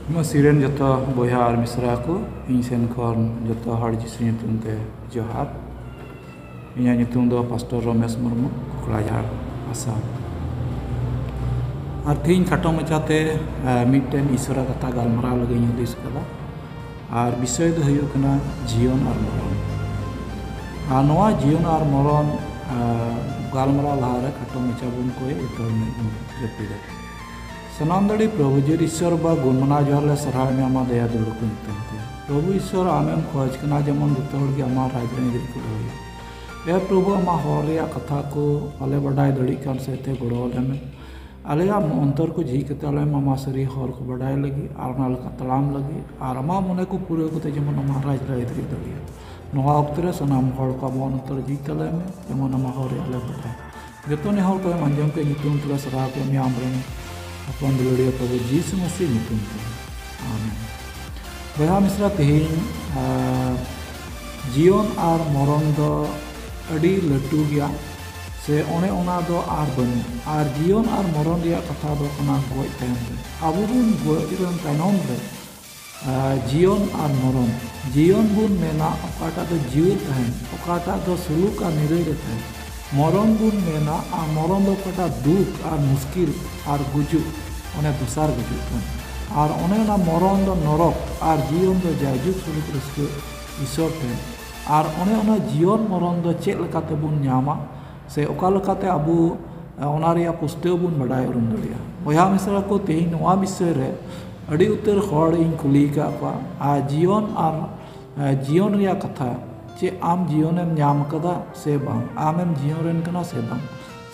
ᱢᱟᱹᱥᱤ ᱨᱮᱱ ᱡᱚᱛᱚ ᱵᱚᱭᱦᱟ ᱟᱨ ᱢᱤᱥᱨᱟ ᱠᱚ ᱤᱧ ᱥᱮᱱ ᱠᱷᱚᱱ ᱡᱚᱛᱚ ᱦᱚᱲ ᱡᱤᱥᱩ ᱧᱩᱛᱩᱢ ᱛᱮ ᱡᱚᱦᱟᱨ ᱤᱧᱟᱹᱜ ᱧᱩᱛᱩᱢ ᱫᱚ ᱯᱟᱥᱴᱚᱨ ᱨᱚᱢᱮᱥ ᱢᱩᱨᱢᱩ ᱠᱚᱠᱲᱟᱡᱷᱟᱲ ᱟᱥᱟᱢ ᱟᱨ ᱛᱮᱦᱮᱧ ᱠᱷᱟᱴᱚ ᱢᱟᱪᱷᱟᱛᱮ ᱢᱤᱫᱴᱮᱱ ᱤᱥᱚᱨᱟ ᱠᱟᱛᱷᱟ ᱜᱟᱞᱢᱟᱨᱟᱣ ᱞᱟᱹᱜᱤᱫ ᱤᱧ ᱦᱩᱫᱤᱥ ᱟᱠᱟᱫᱟ ᱟᱨ ᱵᱤᱥᱚᱭ ᱫᱚ ᱦᱩᱭᱩᱜ ᱠᱟᱱᱟ ᱡᱤᱭᱚᱱ ᱟᱨ ᱢᱚᱨᱚᱱ ᱟᱨ ᱱᱚᱣᱟ ᱡᱤᱭᱚᱱ ᱟᱨ ᱢᱚᱨᱚᱱ ᱜᱟᱞᱢᱟᱨᱟᱣ ᱞᱟᱦᱟᱨᱮ ᱠᱷᱟᱴᱚ ᱢᱟᱪᱷᱟ ᱵᱚᱱ ᱠᱚᱭ ᱩᱛᱟᱹᱨ ᱢᱮ ᱡᱟᱹᱯᱤᱫᱟ ᱥᱟᱱᱟᱢ ᱫᱟᱲᱮ ᱯᱨᱚᱵᱷᱩ ᱡᱤᱨ ᱤᱥᱥᱚᱨ ᱵᱟ ᱜᱩᱱ ᱢᱟᱱᱟᱣ ᱡᱚᱦᱟᱨ ᱞᱮ ᱥᱟᱨᱦᱟᱣ ᱢᱮ ᱟᱢᱟᱜ ᱫᱟᱭᱟ ᱫᱩᱞᱩᱲ ᱠᱚ ᱧᱩᱛᱩᱢ ᱛᱮ ᱯᱨᱚᱵᱷᱩ ᱤᱥᱥᱚᱨ ᱟᱢᱮᱢ ᱠᱷᱚᱡᱽ ᱠᱟᱱᱟ ᱡᱮᱢᱚᱱ ᱡᱚᱛᱚ ᱦᱚᱲ ᱜᱮ ᱟᱢᱟᱜ ᱨᱟᱡᱽ ᱨᱮ ᱟᱹᱭᱩᱨᱤᱡ ᱠᱚ ᱫᱚᱦᱚᱭᱟ ᱮ ᱯᱨᱚᱵᱷᱩ ᱟᱢᱟᱜ ᱦᱚᱲ ᱨᱮᱭᱟᱜ ᱠᱟᱛᱷᱟ ᱠᱚ ᱵᱟᱞᱮ ᱵᱟᱰᱟᱭ ᱫᱟᱲᱮᱭᱟᱜ ᱠᱟᱱ ᱥᱮᱫ ᱛᱮ ᱜᱚᱲᱚ ᱟᱞᱮ ᱢᱮ ᱟᱞᱮᱭᱟᱜ ᱚᱱᱛᱚᱨ ᱠᱚ ᱡᱷᱤᱡ ᱠᱟᱛᱮ ᱟᱞᱮ ᱟᱢᱟᱜ ᱥᱟᱹᱨᱤ ᱦᱚᱨ ᱠᱚ ᱵᱟᱰᱟᱭ ᱞᱟᱹᱜᱤᱫ ᱟᱨ ᱚᱱᱟ ᱞᱮᱠᱟ ᱛᱟᱲᱟᱢ ᱞᱟᱹᱜᱤᱫ ᱟᱨ ᱟᱢᱟᱜ ᱢᱚᱱᱮ ᱠᱚ ᱯᱩᱨᱟᱹᱣ ᱠᱟᱛᱮ ᱡᱮᱢᱚᱱ ᱟᱢᱟᱜ ᱨᱟᱡᱽ ᱨᱮ ᱟᱹᱭᱫᱟᱹᱨᱤ ᱫᱟᱲᱮᱭᱟᱜ ᱱᱚᱣᱟ ᱚᱠᱛᱚ ᱨᱮ ᱥᱟᱱᱟᱢ ᱦᱚᱲ ᱠᱚ ᱟᱢᱟᱜ ᱚᱱᱛᱚᱨ ᱡᱷᱤᱡ ᱛᱟᱞᱮ ᱢᱮ ᱡᱮᱢᱚᱱ ᱟᱢᱟᱜ ᱦᱚᱨ ᱨᱮᱭᱟᱜ ᱞᱮ ᱵᱟᱰᱟᱭ ᱡᱚᱛᱚ ᱱᱮᱦᱚᱨ ᱠᱚᱭᱮᱢ ᱟᱸᱡᱚᱢ ᱠᱮᱫ ᱧᱩᱛᱩᱢ ᱛᱮᱞᱮ ᱥᱟᱨᱦᱟᱣ ᱠᱮᱫ ᱢᱮᱭᱟ ᱟᱢᱨᱮᱱ ᱦᱚᱯᱚᱱ ᱫᱩᱞᱟᱹᱲᱤᱭᱟᱹ ᱯᱨᱚᱵᱷᱩ ᱡᱤᱥᱩ ᱢᱟᱹᱥᱤ ᱧᱩᱛᱩᱢ ᱛᱮ ᱟᱢᱮᱱ ᱵᱚᱭᱦᱟ ᱢᱤᱥᱨᱟ ᱛᱮᱦᱮᱧ ᱡᱤᱭᱚᱱ ᱟᱨ ᱢᱚᱨᱚᱱ ᱫᱚ ᱟᱹᱰᱤ ᱞᱟᱹᱴᱩ ᱜᱮᱭᱟ ᱥᱮ ᱚᱱᱮ ᱚᱱᱟ ᱫᱚ ᱟᱨ ᱵᱟᱹᱱᱩᱜ ᱟᱨ ᱡᱤᱭᱚᱱ ᱟᱨ ᱢᱚᱨᱚᱱ ᱨᱮᱭᱟᱜ ᱠᱟᱛᱷᱟ ᱫᱚ ᱠᱟᱱᱟ ᱜᱚᱡ ᱛᱟᱭᱚᱢ ᱨᱮ ᱟᱵᱚ ᱵᱚᱱ ᱜᱚᱡ ᱨᱮᱱ ᱛᱟᱭᱱᱚᱢ ᱨᱮ ᱡᱤᱭᱚᱱ ᱟᱨ ᱢᱚᱨᱚᱱ᱾ ᱡᱤᱭᱚᱱ ᱵᱚᱱ ᱢᱮᱱᱟ ᱚᱠᱟᱴᱟᱜ ᱫᱚ ᱡᱤᱣᱮᱫ ᱛᱟᱦᱮᱸᱱ, ᱚᱠᱟᱴᱟᱜ ᱫᱚ ᱥᱩᱞᱩᱠ ᱟᱨ ᱱᱤᱨᱟᱹᱭ ᱨᱮ ᱛᱟᱦᱮᱸᱱ᱾ ᱢᱚᱨᱚᱱ ᱵᱚᱱ ᱢᱮᱱᱟ ᱟᱨ ᱢᱚᱨᱚᱱ ᱫᱚ ᱚᱠᱟᱴᱟᱜ ᱫᱩᱠ ᱟᱨ ᱢᱩᱥᱠᱤᱞ ᱟᱨ ᱜᱩᱡᱩᱜ ᱚᱱᱮ ᱫᱚᱥᱟᱨ ᱜᱩᱡᱩᱜ ᱠᱟᱱ᱾ ᱟᱨ ᱚᱱᱮ ᱚᱱᱟ ᱢᱚᱨᱚᱱ ᱫᱚ ᱱᱚᱨᱚᱠ ᱟᱨ ᱡᱤᱭᱚᱱ ᱫᱚ ᱡᱟᱭᱡᱩᱜᱽ ᱥᱩᱞᱩᱠ ᱨᱟᱹᱥᱠᱟᱹ ᱤᱥᱚᱨ ᱴᱷᱮᱱ᱾ ᱟᱨ ᱚᱱᱮ ᱚᱱᱟ ᱡᱤᱭᱚᱱ ᱢᱚᱨᱚᱱ ᱫᱚ ᱪᱮᱫ ᱞᱮᱠᱟᱛᱮ ᱵᱚᱱ ᱧᱟᱢᱟ? ᱥᱮ ᱚᱠᱟ ᱞᱮᱠᱟᱛᱮ ᱟᱵᱚ ᱚᱱᱟ ᱨᱮᱭᱟᱜ ᱯᱩᱥᱴᱟᱹᱣ ᱵᱚᱱ ᱵᱟᱰᱟᱭ ᱩᱨᱩᱢ ᱫᱟᱲᱮᱭᱟᱜᱼᱟ ᱵᱚᱭᱦᱟ ᱢᱤᱥᱨᱟ ᱠᱚ ᱛᱮᱦᱤᱧ ᱱᱚᱣᱟ ᱵᱤᱥᱚᱭ ᱨᱮ ᱟᱹᱰᱤ ᱩᱛᱟᱹᱨ ᱦᱚᱲ ᱤᱧ ᱠᱩᱞᱤ ᱟᱠᱟᱫ ᱠᱚᱣᱟ ᱟᱨ ᱡᱤᱭᱚᱱ ᱟᱨ ᱡᱤᱭᱚᱱ ᱨᱮᱭᱟᱜ ᱠᱟᱛᱷᱟ ᱪᱮ ᱟᱢ ᱡᱤᱭᱚᱱ ᱮᱢ ᱧᱟᱢ ᱟᱠᱟᱫᱟ ᱥᱮ ᱵᱟᱝ ᱟᱢᱮᱢ ᱡᱤᱭᱚᱱ ᱨᱮᱱ ᱠᱟᱱᱟ ᱥᱮ ᱵᱟᱝ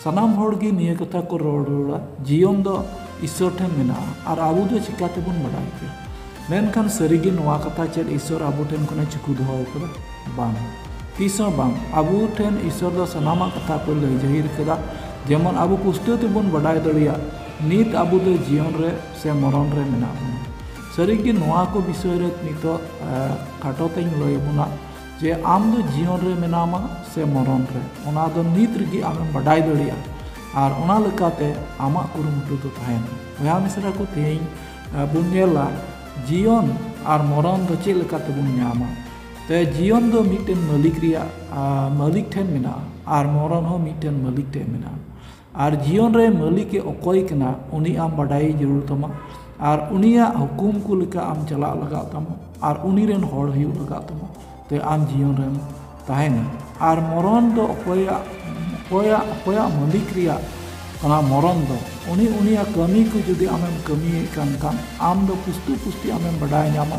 ᱥᱟᱱᱟᱢ ᱦᱚᱲ ᱜᱮ ᱱᱤᱭᱟᱹ ᱠᱟᱛᱷᱟ ᱠᱚ ᱨᱚᱲ ᱨᱩᱣᱟᱹᱲᱟ ᱡᱤᱭᱚᱱ ᱫᱚ ᱤᱥᱥᱚᱨ ᱴᱷᱮᱱ ᱢᱮᱱᱟᱜᱼᱟ ᱟᱨ ᱟᱵᱚ ᱫᱚ ᱪᱤᱠᱟᱹ ᱛᱮᱵᱚᱱ ᱵᱟᱰᱟᱭ ᱠᱮᱭᱟ ᱢᱮᱱᱠᱷᱟᱱ ᱥᱟᱹᱨᱤ ᱜᱮ ᱱᱚᱣᱟ ᱠᱟᱛᱷᱟ ᱪᱮᱫ ᱤᱥᱥᱚᱨ ᱟᱵᱚ ᱴᱷᱮᱱ ᱠᱷᱚᱱᱮ ᱪᱩᱠᱩ ᱫᱚᱦᱚ ᱟᱠᱟᱫᱟ ᱵᱟᱝ ᱛᱤᱥ ᱦᱚᱸ ᱵᱟᱝ ᱟᱵᱚ ᱴᱷᱮᱱ ᱤᱥᱚᱨ ᱫᱚ ᱥᱟᱱᱟᱢᱟᱜ ᱠᱟᱛᱷᱟ ᱠᱚ ᱞᱟᱹᱭ ᱡᱟᱹᱦᱤᱨ ᱠᱟᱫᱟ ᱡᱮᱢᱚᱱ ᱟᱵᱚ ᱯᱩᱥᱴᱟᱹᱣ ᱛᱮᱵᱚᱱ ᱵᱟᱰᱟᱭ ᱫᱟᱲᱮᱭᱟᱜ ᱱᱤᱛ ᱟᱵᱚ ᱫᱚ ᱡᱤᱭᱚᱱ ᱨᱮ ᱥᱮ ᱢᱚᱨᱚᱱ ᱨᱮ ᱢᱮᱱᱟᱜ ᱵᱚᱱᱟ ᱥᱟᱹᱨᱤ ᱜᱮ ᱱᱚᱣᱟ ᱠᱚ ᱵᱤᱥᱚᱭ ᱨᱮ ᱱᱤᱛᱚᱜ ᱠᱷᱟᱴᱚ ᱛᱮᱧ ᱞᱟᱹᱭ ᱟᱵᱚᱱᱟ ᱡᱮ ᱟᱢ ᱫᱚ ᱡᱤᱭᱚᱱ ᱨᱮ ᱢᱮᱱᱟᱢᱟ ᱥᱮ ᱢᱚᱨᱚᱱ ᱨᱮ ᱚᱱᱟ ᱫᱚ ᱱᱤᱛ ᱨᱮᱜᱮ ᱟᱢᱮᱢ ᱵᱟᱰᱟᱭ ᱫᱟᱲᱮᱭᱟᱜᱼᱟ ᱟᱨ ᱚᱱᱟ ᱞᱮᱠᱟᱛᱮ ᱟᱢᱟᱜ ᱠᱩᱨᱩᱢᱩᱴᱩ ᱫᱚ ᱛᱟᱦᱮᱱᱟ ᱵᱚᱭᱦᱟ ᱢᱤᱥᱨᱟ ᱠᱚ ᱛᱮᱦᱮᱧ ᱵᱚᱱ ᱧᱮᱞᱟ ᱡᱤᱭᱚᱱ ᱟᱨ ᱢᱚᱨᱚᱱ ᱫᱚ ᱪᱮᱫ ᱞᱮᱠᱟ ᱛᱮᱵᱚᱱ ᱧᱟᱢᱟ ᱛᱮ ᱡᱤᱭᱚᱱ ᱫᱚ ᱢᱤᱫᱴᱮᱱ ᱢᱟᱹᱞᱤᱠ ᱨᱮᱭᱟᱜ ᱢᱟᱹᱞᱤᱠ ᱴᱷᱮᱱ ᱢᱮᱱᱟᱜᱼᱟ ᱟᱨ ᱢᱚᱨᱚᱱ ᱦᱚᱸ ᱢᱤᱫᱴᱮᱱ ᱢᱟᱹᱞᱤᱠ ᱴᱷᱮᱱ ᱢᱮᱱᱟᱜᱼᱟ ᱟᱨ ᱡᱤᱭᱚᱱ ᱨᱮ ᱢᱟᱹᱞᱤᱠ ᱮ ᱚᱠᱚᱭ ᱠᱟᱱᱟ ᱩᱱᱤ ᱟᱢ ᱵᱟᱰᱟᱭᱮ ᱡᱟᱹᱨᱩᱲ ᱛᱟᱢᱟ ᱟᱨ ᱩᱱᱤᱭᱟᱜ ᱦᱩᱠᱩᱢ ᱠᱚ ᱞᱮᱠᱟ ᱟᱢ ᱪᱟᱞᱟᱜ ᱞᱟᱜᱟᱣ ᱛᱟᱢᱟ ᱟᱨ ᱩᱱᱤ ᱨᱮᱱ ᱦᱚᱲ ᱦᱩᱭᱩᱜ ᱞᱟᱜᱟᱣ ᱛᱟᱢᱟ ᱛᱮ ᱟᱢ ᱡᱤᱭᱚᱱ ᱨᱮᱢ ᱛᱟᱦᱮᱱᱟ ᱟᱨ ᱢᱚᱨᱚᱱ ᱫᱚ ᱚᱠᱚᱭᱟᱜ ᱚᱠᱚᱭᱟᱜ ᱚᱠᱚᱭᱟᱜ ᱢᱟᱹᱞᱤᱠ ᱨᱮᱭᱟᱜ ᱚᱱᱟ ᱢᱚᱨᱚᱱ ᱫᱚ ᱩᱱᱤ ᱩᱱᱤᱭᱟᱜ ᱠᱟᱹᱢᱤ ᱠᱚ ᱡᱩᱫᱤ ᱟᱢᱮᱢ ᱠᱟᱹᱢᱤᱭᱮᱫ ᱠᱟᱱ ᱠᱷᱟᱱ ᱟᱢ ᱫᱚ ᱯᱩᱥᱴᱟᱹ ᱯᱩᱥᱴᱤ ᱟᱢᱮᱢ ᱵᱟᱰᱟᱭ ᱧᱟᱢᱟ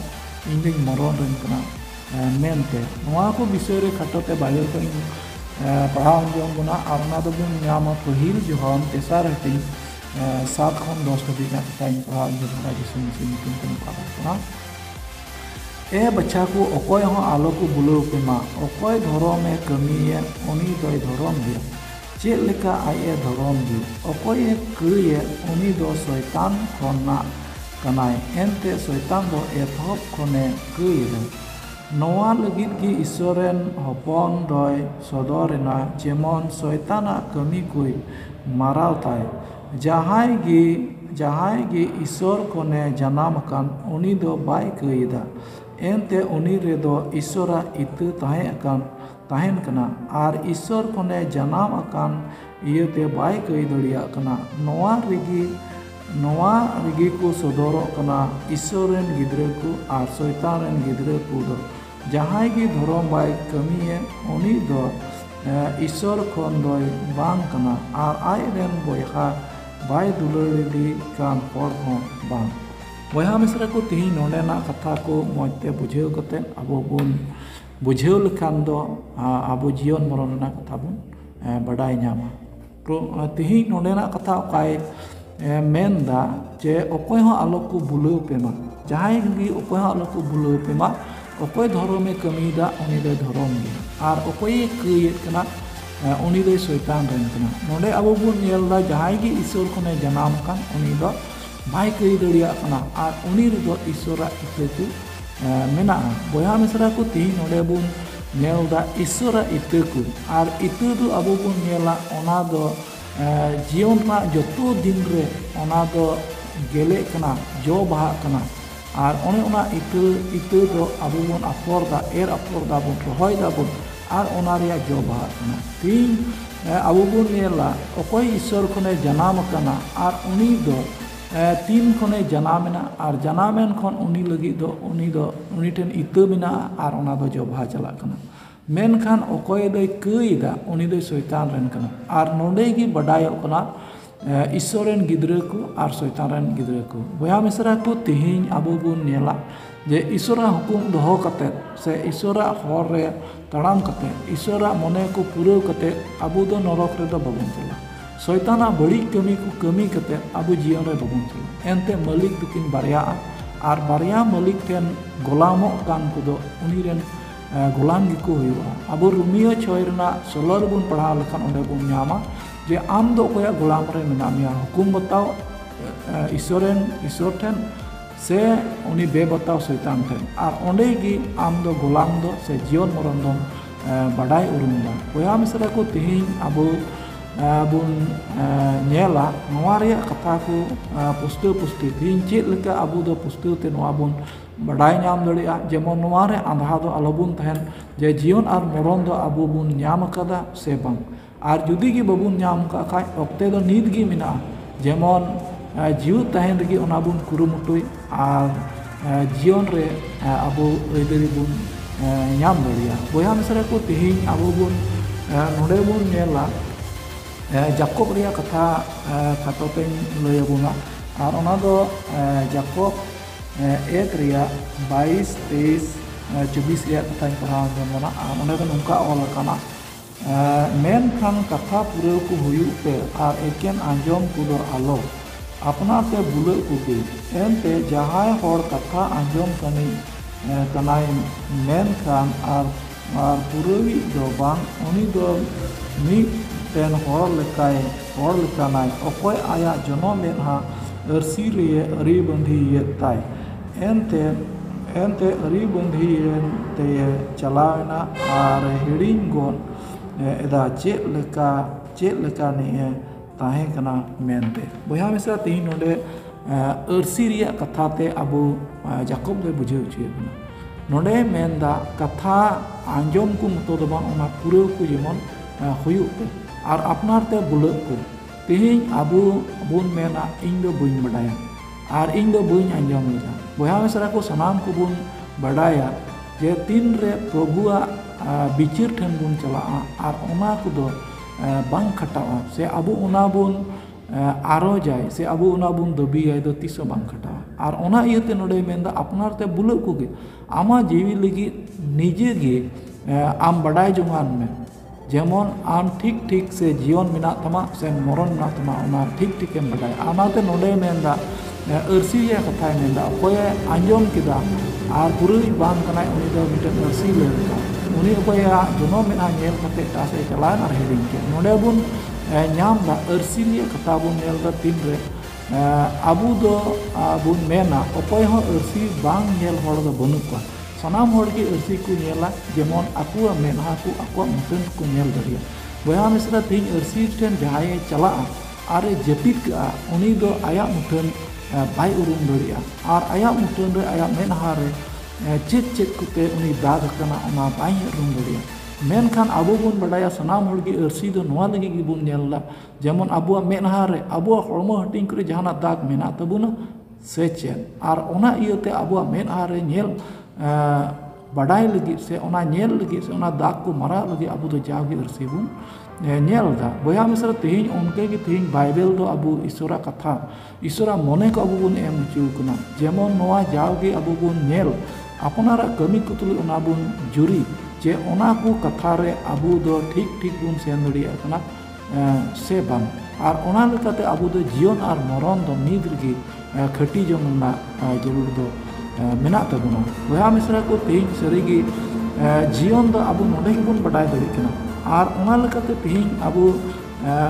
ᱤᱧ ᱫᱚᱧ ᱢᱚᱨᱚᱱ ᱨᱮᱱ ᱠᱟᱱᱟ ᱢᱮᱱᱛᱮ ᱱᱚᱣᱟ ᱠᱚ ᱵᱤᱥᱚᱭ ᱨᱮ ᱠᱷᱟᱴᱚ ᱛᱮ ᱵᱟᱭᱳ ᱠᱚᱧ ᱯᱟᱲᱦᱟᱣ ᱟᱸᱡᱚᱢ ᱵᱚᱱᱟ ᱟᱨ ᱚᱱᱟ ᱫᱚᱵᱚᱱ ᱧᱟᱢᱟ ᱯᱟᱹᱦᱤᱞ ᱡᱚᱦᱚᱱ ᱛᱮᱥᱟᱨ ᱦᱟᱹᱴᱤᱧ ᱥᱟᱛ ᱠᱷᱚᱱ ᱫᱚᱥ ᱦᱟᱹᱵᱤᱡ ᱨᱮᱱᱟᱜ ᱠᱟᱛᱷᱟᱧ ᱯᱟᱲᱦᱟᱣ ᱟᱸᱡᱚᱢ ᱵᱚᱱᱟ ᱡᱤᱥᱩ ᱢᱤᱥᱤ ᱧᱩᱛᱩᱢ ᱛᱮᱧ ᱯᱟᱲᱦᱟᱣ ᱠᱟᱱᱟ ᱮ ᱵᱟᱪᱷᱟ ᱠᱚ ᱚᱠᱚᱭ ᱦᱚᱸ ᱟᱞᱚ ᱠᱚ ᱵᱩᱞᱟᱹᱣ ᱯᱮ ᱢᱟ ᱚᱠᱚᱭ ᱫᱷᱚᱨᱚᱢᱮ ᱠᱟᱹᱢᱤᱭᱮᱫ ᱩᱱᱤ ᱫᱚᱭ ᱫᱷᱚᱨᱚᱢ ᱜᱮᱭᱟ ᱪᱮᱫ ᱞᱮᱠᱟ ᱟᱡ ᱮ ᱫᱷᱚᱨᱚᱢ ᱜᱮ ᱚᱠᱚᱭ ᱮ ᱠᱟᱹᱭ ᱮᱫ ᱩᱱᱤ ᱫᱚ ᱥᱚᱭᱛᱟᱱ ᱠᱷᱚᱱᱟᱜ ᱠᱟᱱᱟᱭ ᱮᱱᱛᱮ ᱥᱚᱭᱛᱟᱱ ᱫᱚ ᱮᱛᱚᱦᱚᱵ ᱠᱷᱚᱱ ᱮ ᱠᱟᱹᱭ ᱮᱫᱟ ᱱᱚᱶᱟ ᱞᱟᱹᱜᱤᱫ ᱜᱮ ᱤᱥᱥᱚᱨ ᱨᱮᱱ ᱦᱚᱯᱚᱱ ᱫᱚᱭ ᱥᱚᱫᱚᱨ ᱮᱱᱟ ᱡᱮᱢᱚᱱ ᱥᱚᱭᱛᱟᱱ ᱟᱜ ᱠᱟᱹᱢᱤ ᱠᱚᱭ ᱢᱟᱨᱟᱣ ᱛᱟᱭ ᱡᱟᱦᱟᱸᱭ ᱜᱮ ᱡᱟᱦᱟᱸᱭ ᱜᱮ ᱤᱥᱥᱚᱨ ᱠᱷᱚᱱ ᱮ ᱡᱟᱱᱟᱢ ᱟᱠᱟᱱ ᱩᱱᱤ ᱫᱚ ᱵᱟᱭ ᱠᱟᱹᱭ ᱮᱫᱟ ᱮᱱᱛᱮ ᱩᱱᱤ ᱨᱮᱫᱚ ᱤᱥᱥᱚᱨ ᱟᱜ ᱤᱛᱟᱹ ᱛᱟᱦᱮᱸ ᱟᱠᱟᱱ ᱛᱟᱦᱮᱸᱱ ᱠᱟᱱᱟ ᱟᱨ ᱤᱥᱥᱚᱨ ᱠᱷᱚᱱ ᱮ ᱡᱟᱱᱟᱢ ᱟᱠᱟᱱ ᱤᱭᱟᱹ ᱛᱮ ᱵᱟᱭ ᱠᱟᱹᱭ ᱫᱟᱲᱮᱭᱟᱜ ᱠᱟᱱᱟ᱾ ᱱᱚᱶᱟ ᱨᱮᱜᱮ ᱱᱚᱶᱟ ᱨᱮᱜᱮ ᱠᱚ ᱥᱚᱫᱚᱨᱚᱜ ᱠᱟᱱᱟ ᱤᱥᱥᱚᱨ ᱨᱮᱱ ᱜᱤᱫᱽᱨᱟᱹ ᱠᱚ ᱟᱨ ᱥᱚᱭᱛᱟᱱ ᱨᱮᱱ ᱜᱤᱫᱽᱨᱟᱹ ᱠᱚ ᱫᱚ᱾ ᱡᱟᱦᱟᱸᱭ ᱜᱮ ᱫᱷᱚᱨᱚᱢ ᱵᱟᱭ ᱠᱟᱹᱢᱤᱭᱮᱫ ᱩᱱᱤ ᱫᱚ ᱤᱥᱥᱚᱨ ᱠᱷᱚᱱ ᱫᱚᱭ ᱵᱟᱝ ᱠᱟᱱᱟ ᱟᱨ ᱟᱡ ᱨᱮᱱ ᱵᱚᱭᱦᱟ ᱵᱟᱭ ᱫᱩᱞᱟᱹᱲᱮᱫᱮ ᱠᱟᱱ ᱦᱚᱲ ᱦᱚᱸ ᱵᱟᱝ᱾ ᱵᱚᱭᱦᱟ ᱢᱤᱥᱨᱟ ᱠᱚ ᱛᱮᱦᱮᱧ ᱱᱚᱸᱰᱮᱱᱟᱜ ᱠᱟᱛᱷᱟ ᱠᱚ ᱢᱚᱡᱽ ᱛᱮ ᱵᱩᱡᱷᱟᱹᱣ ᱠᱟᱛᱮ ᱟᱵᱚ ᱵᱚᱱ ᱵᱩᱡᱷᱟᱹᱣ ᱞᱮᱠᱷᱟᱱ ᱫᱚ ᱟᱵᱚ ᱡᱤᱭᱚᱱ ᱢᱚᱨᱚᱱ ᱨᱮᱱᱟᱜ ᱠᱟᱛᱷᱟ ᱵᱚᱱ ᱵᱟᱰᱟᱭ ᱧᱟᱢᱟ ᱛᱚ ᱛᱮᱦᱮᱧ ᱱᱚᱰᱮᱱᱟᱜ ᱠᱟᱛᱷᱟ ᱚᱠᱟᱭ ᱢᱮᱱᱫᱟ ᱡᱮ ᱚᱠᱚᱭ ᱦᱚᱸ ᱟᱞᱚ ᱠᱚ ᱵᱩᱞᱟᱹᱣ ᱯᱮᱢᱟ ᱡᱟᱦᱟᱸᱭ ᱜᱮ ᱚᱠᱚᱭ ᱦᱚᱸ ᱟᱞᱚ ᱠᱚ ᱵᱩᱞᱟᱹᱣ ᱯᱮᱢᱟ ᱚᱠᱚᱭ ᱫᱷᱚᱨᱚᱢᱮ ᱠᱟᱹᱢᱤᱭᱮᱫᱟ ᱩᱱᱤ ᱫᱚᱭ ᱫᱷᱚᱨᱚᱢ ᱜᱮᱭᱟ ᱟᱨ ᱚᱠᱚᱭᱮ ᱠᱟᱹᱭᱮᱫ ᱠᱟᱱᱟ ᱩᱱᱤ ᱫᱚᱭ ᱥᱚᱭᱛᱟᱱ ᱨᱮᱱ ᱠᱟᱱᱟ ᱱᱚᱰᱮ ᱟᱵᱚ ᱵᱚᱱ ᱧᱮᱞᱫᱟ ᱡᱟᱦᱟᱸᱭ ᱜᱮ ᱤᱥᱥᱚᱨ ᱠᱷᱚᱱᱮ ᱡᱟᱱᱟᱢ ᱟᱠᱟᱱ ᱩᱱᱤ ᱫᱚ ᱵᱟᱭ ᱠᱟᱹᱭ ᱫᱟᱲᱮᱭᱟᱜ ᱠᱟᱱᱟ ᱟᱨ ᱩᱱᱤ ᱨᱮᱫᱚ ᱤᱥᱥᱚᱨᱟᱜ ᱤᱠᱟᱹ ᱠᱚ ᱢᱮᱱᱟᱜᱼᱟ ᱵᱚᱭᱦᱟ ᱢᱤᱥᱨᱟ ᱠᱚ ᱛᱤᱦᱤᱧ ᱱᱚᱰᱮ ᱵᱚᱱ ᱧᱮᱞ ᱮᱫᱟ ᱤᱥᱥᱚᱨᱟᱜ ᱤᱛᱟᱹ ᱠᱚ ᱟᱨ ᱤᱛᱟᱹ ᱫᱚ ᱟᱵᱚ ᱵᱚᱱ ᱧᱮᱞᱟ ᱚᱱᱟ ᱫᱚ ᱡᱤᱭᱚᱱ ᱨᱮᱱᱟᱜ ᱡᱚᱛᱚ ᱫᱤᱱ ᱨᱮ ᱚᱱᱟ ᱫᱚ ᱜᱮᱞᱮᱜ ᱠᱟᱱᱟ ᱡᱚ ᱵᱟᱦᱟᱜ ᱠᱟᱱᱟ ᱟᱨ ᱚᱱᱮ ᱚᱱᱟ ᱤᱛᱟᱹ ᱤᱛᱟᱹ ᱫᱚ ᱟᱵᱚ ᱵᱚᱱ ᱟᱯᱷᱚᱨ ᱫᱟ ᱮᱨ ᱟᱯᱷᱚᱨ ᱫᱟᱵᱚᱱ ᱨᱚᱦᱚᱭ ᱫᱟᱵᱚᱱ ᱟᱨ ᱚᱱᱟ ᱨᱮᱭᱟᱜ ᱡᱚ ᱵᱟᱦᱟᱜ ᱠᱟᱱᱟ ᱛᱤᱦᱤᱧ ᱟᱵᱚ ᱵᱚᱱ ᱧᱮᱞᱟ ᱚᱠᱚᱭ ᱤᱥᱥᱚᱨ ᱠᱷᱚᱱᱮ ᱡᱟᱱᱟᱢ ᱟᱠᱟᱱᱟ ᱟᱨ ᱩᱱᱤ ᱫᱚ ᱛᱤᱱ ᱠᱷᱚᱱᱮ ᱡᱟᱱᱟᱢ ᱮᱱᱟ ᱟᱨ ᱡᱟᱱᱟᱢ ᱮᱱ ᱠᱷᱚᱱ ᱩᱱᱤ ᱞᱟᱹᱜᱤᱫ ᱫᱚ ᱩᱱᱤ ᱫᱚ ᱩᱱᱤ ᱴᱷᱮᱱ ᱤᱛᱟᱹ ᱢᱮᱱᱟᱜᱼᱟ ᱟᱨ ᱚᱱᱟ ᱫᱚ ᱡᱚ ᱵᱟᱦᱟ ᱪᱟᱞᱟᱜ ᱠᱟᱱᱟ ᱢᱮᱱᱠᱷᱟᱱ ᱚᱠᱚᱭ ᱫᱚᱭ ᱠᱟᱹᱭ ᱮᱫᱟ ᱩᱱᱤ ᱫᱚᱭ ᱥᱚᱭᱛᱟᱱ ᱨᱮᱱ ᱠᱟᱱᱟᱭ ᱟᱨ ᱱᱚᱰᱮ ᱜᱮ ᱵᱟᱰᱟᱭᱚᱜ ᱠᱟᱱᱟ ᱤᱥᱥᱚᱨ ᱨᱮᱱ ᱜᱤᱫᱽᱨᱟᱹ ᱠᱚ ᱟᱨ ᱥᱚᱭᱛᱟᱱ ᱨᱮᱱ ᱜᱤᱫᱽᱨᱟᱹ ᱠᱚ ᱵᱚᱭᱦᱟ ᱢᱤᱥᱨᱟ ᱠᱚ ᱛᱮᱦᱮᱧ ᱟᱵᱚ ᱵᱚᱱ ᱧᱮᱞᱟ ᱡᱮ ᱤᱥᱚᱨᱟᱜ ᱦᱩᱠᱩᱢ ᱫᱚᱦᱚ ᱠᱟᱛᱮᱫ ᱥᱮ ᱤᱥᱚᱨᱟᱜ ᱦᱚᱨ ᱨᱮ ᱛᱟᱲᱟᱢ ᱠᱟᱛᱮᱫ ᱤᱥᱚᱨᱟᱜ ᱢᱚᱱᱮ ᱠᱚ ᱯᱩᱨᱟᱹᱣ ᱠᱟᱛᱮᱫ ᱟᱵᱚ ᱫᱚ ᱱᱚᱨᱚᱠ ᱨᱮᱫᱚ ᱵᱟᱵᱚᱱ ᱪᱟᱞᱟᱜᱼᱟ ᱥᱚᱭᱛᱟᱱᱟᱜ ᱵᱟᱹᱲᱤᱡ ᱠᱟᱹᱢᱤ ᱠᱚ ᱠᱟᱹᱢᱤ ᱠᱟᱛᱮᱫ ᱟᱵᱚ ᱡᱤᱭᱚᱱ ᱨᱮ ᱵᱟᱵᱚᱱ ᱪᱟᱞᱟᱜᱼᱟ ᱮᱱᱛᱮ ᱢᱟᱹᱞᱤᱠ ᱫᱚᱠᱤᱱ ᱵᱟᱨᱭᱟᱜᱼᱟ ᱟᱨ ᱵᱟᱨᱭᱟ ᱢᱟᱹᱞᱤᱠ ᱴᱷᱮᱱ ᱜᱚᱞᱟᱢᱚᱜ ᱠᱟᱱ ᱠᱚᱫᱚ ᱩᱱᱤ ᱨᱮᱱ ᱜᱚᱞᱟᱢ ᱜᱮᱠᱚ ᱦᱩᱭᱩᱜᱼᱟ ᱟᱵᱚ ᱨᱩᱢᱤᱭᱚ ᱪᱷᱚᱭ ᱨᱮᱱᱟᱜ ᱥᱳᱞᱳ ᱨᱮᱵᱚᱱ ᱯᱟᱲᱦᱟᱣ ᱞᱮᱠᱷᱟᱱ ᱚᱸᱰᱮ ᱵᱚᱱ ᱧᱟᱢᱟ ᱡᱮ ᱟᱢ ᱫᱚ ᱚᱠᱚᱭᱟᱜ ᱜᱚᱞᱟᱢ ᱨᱮ ᱢᱮᱱᱟᱜ ᱢᱮᱭᱟ ᱦᱩᱠᱩᱢ ᱵᱟᱛᱟᱣ ᱤᱥᱚᱨ ᱨᱮᱱ ᱤᱥᱚᱨ ᱴᱷᱮᱱ ᱥᱮ ᱩᱱᱤ ᱵᱮᱵᱟᱛᱟᱣ ᱥᱚᱭᱛᱟᱱ ᱴᱷᱮᱱ ᱟᱨ ᱚᱸᱰᱮ ᱜᱮ ᱟᱢ ᱫᱚ ᱜᱚᱞᱟᱢ ᱫᱚ ᱥᱮ ᱡᱤᱭᱚᱱ ᱢᱚᱨᱚᱱ ᱫᱚᱢ ᱵᱟᱰᱟᱭ ᱩᱨᱩᱢ ᱫᱟ ᱵᱚᱭᱦᱟ ᱢᱤᱥᱨᱟ ᱠᱚ ᱛᱮᱦᱮᱧ ᱟᱵᱚ ᱵᱚᱱ ᱧᱮᱞᱟ ᱱᱚᱣᱟ ᱨᱮᱭᱟᱜ ᱠᱟᱛᱷᱟ ᱠᱚ ᱯᱩᱥᱴᱟᱹᱣ ᱯᱩᱥᱴᱤ ᱛᱮᱦᱮᱧ ᱪᱮᱫ ᱞᱮᱠᱟ ᱟᱵᱚ ᱫᱚ ᱯᱩᱥᱴᱟᱹᱣ ᱛᱮ ᱱᱚᱣᱟ ᱵᱚᱱ ᱵᱟᱰᱟᱭ ᱧᱟᱢ ᱫᱟᱲᱮᱭᱟᱜᱼᱟ ᱡᱮᱢᱚᱱ ᱱᱚᱣᱟ ᱨᱮ ᱟᱸᱫᱷᱟ ᱫᱚ ᱟᱞᱚ ᱵᱚᱱ ᱛᱟᱦᱮᱱ ᱡᱮ ᱡᱤᱭᱚᱱ ᱟᱨ ᱢᱚᱨᱚᱱ ᱫᱚ ᱟᱵᱚ ᱵᱚᱱ ᱧᱟᱢ ᱠᱟᱫᱟ ᱥᱮ ᱵᱟᱝ ᱟᱨ ᱡᱩᱫᱤ ᱜᱮ ᱵᱟᱵᱚᱱ ᱧᱟᱢ ᱠᱟᱜ ᱠᱷᱟᱡ ᱚᱠᱛᱮ ᱫᱚ ᱱᱤᱛ ᱜᱮ ᱢᱮᱱᱟᱜᱼᱟ ᱡᱮᱢᱚᱱ ᱡᱤᱣᱮᱫ ᱛᱟᱦᱮᱱ ᱨᱮᱜᱮ ᱚᱱᱟ ᱵᱚᱱ ᱠᱩᱨᱩᱢᱩᱴᱩᱭ ᱟᱨ ᱡᱤᱭᱚᱱ ᱨᱮ ᱟᱵᱚ ᱟᱹᱭᱫᱟᱹᱨᱤ ᱵᱚᱱ ᱧᱟᱢ ᱫᱟᱲᱮᱭᱟᱜ ᱵᱚᱭᱦᱟ ᱢᱤᱥᱨᱟ ᱠᱚ ᱛᱮᱦᱮᱧ ᱟᱵᱚ ᱵᱚᱱ ᱱᱚᱰᱮ ᱵᱚᱱ ᱧᱮᱞᱟ ᱡᱟᱠᱚᱵ ᱨᱮᱭᱟᱜ ᱠᱟᱛᱷᱟ ᱠᱷᱟᱴᱚ ᱛᱤᱧ ᱞᱟᱹᱭ ᱟᱵᱚᱱᱟ ᱟᱨ ᱚᱱᱟ ᱫᱚ ᱡᱟᱠᱚᱵ ᱮᱠ ᱨᱮᱭᱟᱜ ᱵᱟᱭᱤᱥ ᱛᱮᱭᱤᱥ ᱪᱚᱵᱵᱤᱥ ᱨᱮᱭᱟᱜ ᱠᱟᱛᱷᱟᱧ ᱯᱟᱲᱦᱟᱣ ᱟᱵᱚᱱ ᱠᱟᱱᱟ ᱟᱨ ᱚᱸᱰᱮ ᱫᱚ ᱱᱚᱝᱠᱟ ᱚᱞ ᱟᱠᱟᱱᱟ ᱢᱮᱱᱠᱷᱟᱱ ᱠᱟᱛᱷᱟ ᱯᱩᱨᱟᱹᱣ ᱠᱚ ᱦᱩᱭᱩᱜ ᱯᱮ ᱟᱨ ᱮᱠᱮᱱ ᱟᱸᱡᱚᱢ ᱠᱚ ᱫᱚ ᱟᱞᱚ᱾ ᱟᱯᱱᱟᱨ ᱛᱮ ᱵᱩᱞᱟᱹᱜ ᱠᱚᱜᱮ᱾ ᱮᱱᱛᱮ ᱡᱟᱦᱟᱸᱭ ᱦᱚᱲ ᱠᱟᱛᱷᱟ ᱟᱸᱡᱚᱢ ᱠᱟᱹᱱᱤᱡ ᱠᱟᱱᱟᱭ ᱢᱮᱱᱠᱷᱟᱱ ᱟᱨ ᱟᱨ ᱯᱩᱨᱟᱹᱣᱤᱡ ᱫᱚ ᱵᱟᱝ ᱩᱱᱤ ᱫᱚ ᱢᱤᱫ ᱴᱮᱱ ᱦᱚᱲ ᱞᱮᱠᱟᱭ ᱦᱚᱲ ᱞᱮᱠᱟᱱᱟᱭ ᱚᱠᱚᱭ ᱟᱭᱟᱜ ᱡᱚᱱᱚᱢ ᱢᱮᱫᱦᱟ ᱟᱹᱨᱥᱤ ᱨᱮᱭᱮ ᱟᱹᱨᱤᱵᱟᱺᱫᱷᱤ ᱭᱮᱫ ᱛᱟᱭ᱾ ᱮᱱᱛᱮᱫ ᱮᱱᱛᱮᱫ ᱟᱹᱨᱤᱵᱟᱹᱫᱤ ᱮᱱ ᱛᱮᱭᱮ ᱪᱟᱞᱟᱣ ᱮᱱᱟ ᱟᱨ ᱦᱤᱲᱤᱧ ᱜᱚᱫ ᱮᱫᱟ ᱪᱮᱫ ᱞᱮᱠᱟ ᱪᱮᱫ ᱞᱮᱠᱟᱱᱤᱡ ᱮ ᱛᱟᱦᱮᱸ ᱠᱟᱱᱟ ᱢᱮᱱᱛᱮ ᱵᱚᱭᱦᱟ ᱢᱤᱥᱨᱟ ᱛᱮᱦᱮᱧ ᱱᱚᱰᱮ ᱟᱹᱨᱥᱤ ᱨᱮᱭᱟᱜ ᱠᱟᱛᱷᱟ ᱛᱮ ᱟᱵᱚ ᱡᱟᱠᱚᱵ ᱫᱚᱭ ᱵᱩᱡᱷᱟᱹᱣ ᱦᱚᱪᱚᱭᱮᱫ ᱵᱚᱱᱟ ᱱᱚᱰᱮᱭ ᱢᱮᱱᱫᱟ ᱠᱟᱛᱷᱟ ᱟᱸᱡᱚᱢ ᱠᱚ ᱢᱚᱛᱚ ᱫᱚ ᱵᱟᱝ ᱚᱱᱟ ᱯᱩᱨᱟᱹᱣ ᱠᱚ ᱡᱮᱢᱚᱱ ᱦᱩᱭᱩᱜ ᱛᱤᱧ ᱟᱨ ᱟᱯᱱᱟᱨ ᱛᱮ ᱵᱩᱞᱟᱹᱜ ᱠᱚ ᱛᱮᱦᱮᱧ ᱟᱵᱚ ᱵᱚᱱ ᱢᱮᱱᱟ ᱤᱧ ᱫᱚ ᱵᱟᱹᱧ ᱵᱟᱰᱟᱭᱟ ᱟᱨ ᱤᱧ ᱫᱚ ᱵᱟᱹᱧ ᱟᱸᱡᱚᱢ ᱞᱮᱫᱟ ᱵᱚᱭᱦᱟ ᱢᱤᱥᱨᱟ ᱠᱚ ᱥᱟᱱᱟᱢ ᱠᱚᱵᱚᱱ ᱵᱟᱰᱟᱭᱟ ᱡᱮ ᱛᱤᱱ ᱨᱮ ᱯᱨᱚᱵᱷᱩᱣᱟᱜ ᱵᱤᱪᱟᱹᱨ ᱴᱷᱮᱱ ᱵᱚᱱ ᱪᱟᱞᱟᱜᱼᱟ ᱟᱨ ᱚᱱᱟ ᱠᱚᱫᱚ ᱵᱟᱝ ᱠᱷᱟᱴᱟᱜᱼᱟ ᱥᱮ ᱟᱵᱚ ᱚᱱᱟ ᱵᱚᱱ ᱟᱨᱚᱡᱟᱭ ᱥᱮ ᱟᱵᱚ ᱚᱱᱟ ᱵᱚᱱ ᱫᱟᱹᱵᱤᱭᱟᱭ ᱫᱚ ᱛᱤᱥ ᱦᱚᱸ ᱵᱟᱝ ᱠᱷᱟᱴᱟᱜᱼᱟ ᱟᱨ ᱚᱱᱟ ᱤᱭᱟᱹ ᱛᱮ ᱱᱚᱰᱮᱭ ᱢᱮᱱᱫᱟ ᱟᱯᱱᱟᱨ ᱛᱮ ᱵᱩᱞᱟᱹᱜ ᱠᱚᱜᱮ ᱟᱢᱟᱜ ᱡᱤᱣᱤ ᱞᱟᱹᱜᱤᱫ ᱱᱤᱡᱮ ᱜᱮ ᱟᱢ ᱵᱟᱰᱟᱭ ᱡᱚᱝᱟᱱ ᱢᱮ ᱡᱮᱢᱚᱱ ᱟᱢ ᱴᱷᱤᱠ ᱴᱷᱤᱠ ᱥᱮ ᱡᱤᱭᱚᱱ ᱢᱮᱱᱟᱜ ᱛᱟᱢᱟ ᱥᱮ ᱢᱚᱨᱚᱱ ᱢᱮᱱᱟᱜ ᱛᱟᱢᱟ ᱚᱱᱟ ᱴᱷᱤᱠ ᱴᱷᱤᱠᱮᱢ ᱵᱟᱰᱟᱭᱟ ᱟᱨ ᱚᱱᱟᱛᱮ ᱱᱚᱰᱮᱭ ᱢᱮᱱᱫᱟ ᱟᱹᱨᱥᱤ ᱨᱮᱭᱟᱜ ᱠᱟᱛᱷᱟᱭ ᱢᱮᱱᱫᱟ ᱚᱠᱚᱭᱮ ᱟᱸᱡᱚᱢ ᱠᱮᱫᱟ ᱟᱨ ᱯᱩᱨᱟᱹᱭᱤᱡ ᱵᱟᱝ ᱠᱟᱱᱟᱭ ᱩᱱᱤ ᱫᱚ ᱢᱤᱫᱴᱮᱱ ᱟᱹᱨᱥᱤ ᱞᱟᱹᱭ ᱞᱮᱠᱟ ᱩᱱᱤ ᱚᱠᱚᱭᱟᱜ ᱡᱚᱱᱚᱢ ᱢᱮᱱᱟᱜᱼᱟ ᱧᱮᱞ ᱠᱟᱛᱮᱫ ᱚᱠᱟ ᱥᱮᱫ ᱪᱟᱞᱟᱣ ᱮᱱᱟ ᱟᱨ ᱦᱤᱲᱤᱧ ᱠᱮᱫ ᱱᱚᱰᱮ ᱵᱚᱱ ᱧᱟᱢ ᱮᱫᱟ ᱟᱹᱨᱥᱤ ᱨᱮᱭᱟᱜ ᱠᱟᱛᱷᱟ ᱵᱚᱱ ᱧᱮᱞ ᱮᱫᱟ ᱛᱤᱱ ᱨᱮ ᱟᱵᱚ ᱫᱚ ᱵᱚᱱ ᱢᱮᱱᱟ ᱚᱠᱚᱭ ᱦᱚᱸ ᱟᱹᱨᱥᱤ ᱵᱟᱝ ᱧᱮᱞ ᱦᱚᱲ ᱫᱚ ᱵᱟᱹᱱᱩᱜ ᱠᱚᱣᱟ ᱥᱟᱱᱟᱢ ᱦᱚᱲ ᱜᱮ ᱟᱹᱨᱥᱤ ᱠᱚ ᱧᱮᱞᱟ ᱡᱮᱢᱚᱱ ᱟᱠᱚᱣᱟᱜ ᱢᱮᱫᱦᱟ ᱠᱚ ᱟᱠᱚᱣᱟᱜ ᱢᱩᱴᱷᱟᱹᱱ ᱠᱚ ᱧᱮᱞ ᱫᱟᱲᱮᱭᱟᱜ ᱵᱚᱭᱦᱟ ᱢᱤᱥᱨᱟ ᱛᱮᱦᱮᱧ ᱟᱹᱨᱥᱤ ᱴᱷᱮᱱ ᱡᱟᱦᱟᱸᱭ ᱮ ᱪᱟᱞᱟᱜᱼᱟ ᱟᱨ ᱮ ᱡᱟᱹᱯᱤᱫ ᱠᱟᱜᱼᱟ ᱩᱱᱤ ᱫᱚ ᱟᱭᱟᱜ ᱢᱩᱴᱷᱟᱹᱱ ᱵᱟᱭ ᱩᱨᱩᱢ ᱫᱟᱲᱮᱭᱟᱜᱼᱟ ᱟᱨ ᱟᱭᱟᱜ ᱢᱩᱴᱷᱟᱹᱱ ᱨᱮ ᱟᱭᱟᱜ ᱢᱮᱫᱦᱟ ᱨᱮ ᱪᱮᱫ ᱪᱮᱫ ᱠᱚᱛᱮ ᱩᱱᱤ ᱫᱟᱜᱽ ᱟᱠᱟᱱᱟ ᱚᱱᱟ ᱵᱟᱭ ᱩᱨᱩᱢ ᱫᱟᱲᱮᱭᱟᱜᱼᱟ ᱢᱮᱱᱠᱷᱟᱱ ᱟᱵᱚ ᱵᱚᱱ ᱵᱟᱰᱟᱭᱟ ᱥᱟᱱᱟᱢ ᱦᱚᱲ ᱜᱮ ᱟᱹᱨᱥᱤ ᱫᱚ ᱱᱚᱣᱟ ᱞᱟᱹᱜᱤᱫ ᱜᱮᱵᱚᱱ ᱧᱮᱞ ᱮᱫᱟ ᱡᱮᱢᱚᱱ ᱟᱵᱚᱣᱟᱜ ᱢᱮᱫᱦᱟ ᱨᱮ ᱟᱵᱚᱣᱟᱜ ᱦᱚᱲᱢᱚ ᱦᱟᱹᱴᱤᱧ ᱠᱚᱨᱮ ᱡᱟᱦᱟᱱᱟᱜ ᱫᱟᱜᱽ ᱢᱮᱱᱟᱜ ᱛᱟᱵᱚᱱᱟ ᱥᱮᱪᱮᱫ ᱟᱨ ᱚᱱᱟ ᱤᱭᱟᱹᱛᱮ ᱟᱵᱚᱣᱟᱜ ᱢᱮᱫᱦᱟ ᱨᱮ ᱧᱮᱞ ᱵᱟᱰᱟᱭ ᱞᱟᱹᱜᱤᱫ ᱥᱮ ᱚᱱᱟ ᱧᱮᱞ ᱞᱟᱹᱜᱤᱫ ᱥᱮ ᱚᱱᱟ ᱫᱟᱜ ᱠᱚ ᱢᱟᱨᱟᱣ ᱞᱟᱹᱜᱤᱫ ᱟᱵᱚ ᱫᱚ ᱡᱟᱣᱜᱮ ᱟᱹᱨᱥᱤ ᱵᱚᱱ ᱧᱮᱞ ᱫᱟ ᱵᱚᱭᱦᱟ ᱢᱤᱥᱨᱟ ᱛᱮᱦᱮᱧ ᱚᱱᱠᱟ ᱜᱮ ᱛᱮᱦᱮᱧ ᱵᱟᱭᱵᱮᱞ ᱫᱚ ᱟᱵᱚ ᱤᱥᱚᱨᱟᱜ ᱠᱟᱛᱷᱟ ᱤᱥᱚᱨᱟᱜ ᱢᱚᱱᱮ ᱠᱚ ᱟᱵᱚ ᱵᱚᱱ ᱮᱢ ᱦᱚᱪᱚ ᱠᱟᱱᱟ ᱡᱮᱢᱚᱱ ᱱᱚᱣᱟ ᱡᱟᱣᱜᱮ ᱟᱵᱚ ᱵᱚᱱ ᱧᱮᱞ ᱟᱯᱱᱟᱨᱟᱜ ᱠᱟᱹᱢᱤ ᱠᱚ ᱛᱩᱞᱩᱡ ᱚᱱᱟ ᱵᱚᱱ ᱡᱩᱨᱤ ᱡᱮ ᱚᱱᱟ ᱠᱚ ᱠᱟᱛᱷᱟ ᱨᱮ ᱟᱵᱚ ᱫᱚ ᱴᱷᱤᱠ ᱴᱷᱤᱠ ᱵᱚᱱ ᱥᱮᱱ ᱫᱟᱲᱮᱭᱟᱜ ᱠᱟᱱᱟ ᱥᱮ ᱵᱟᱝ ᱟᱨ ᱚᱱᱟ ᱞᱮᱠᱟᱛᱮ ᱟᱵᱚ ᱫᱚ ᱡᱤᱭᱚᱱ ᱟᱨ ᱢᱚᱨᱚᱱ ᱫᱚ ᱢᱤᱫ ᱨᱮᱜᱮ ᱠᱷᱟᱹᱴᱤ ᱡᱚᱝ ᱨᱮᱱᱟᱜ ᱡᱟᱹᱨᱩᱲ ᱫᱚ ᱢᱮᱱᱟᱜ ᱛᱟᱵᱚᱱᱟ ᱵᱚᱭᱦᱟ ᱢᱤᱥᱨᱟ ᱠᱚ ᱛᱮᱦᱮᱧ ᱥᱟᱹᱨᱤᱜᱮ ᱡᱤᱭᱚᱱ ᱫᱚ ᱟᱵᱚ ᱱᱚᱰᱮ ᱜᱮᱵᱚᱱ ᱵᱟᱰᱟᱭ ᱫᱟᱲᱮᱭᱟᱜ ᱠᱟᱱᱟ ᱟᱨ ᱚᱱᱟ ᱞᱮᱠᱟᱛᱮ ᱛᱮᱦᱮᱧ ᱟᱵᱚ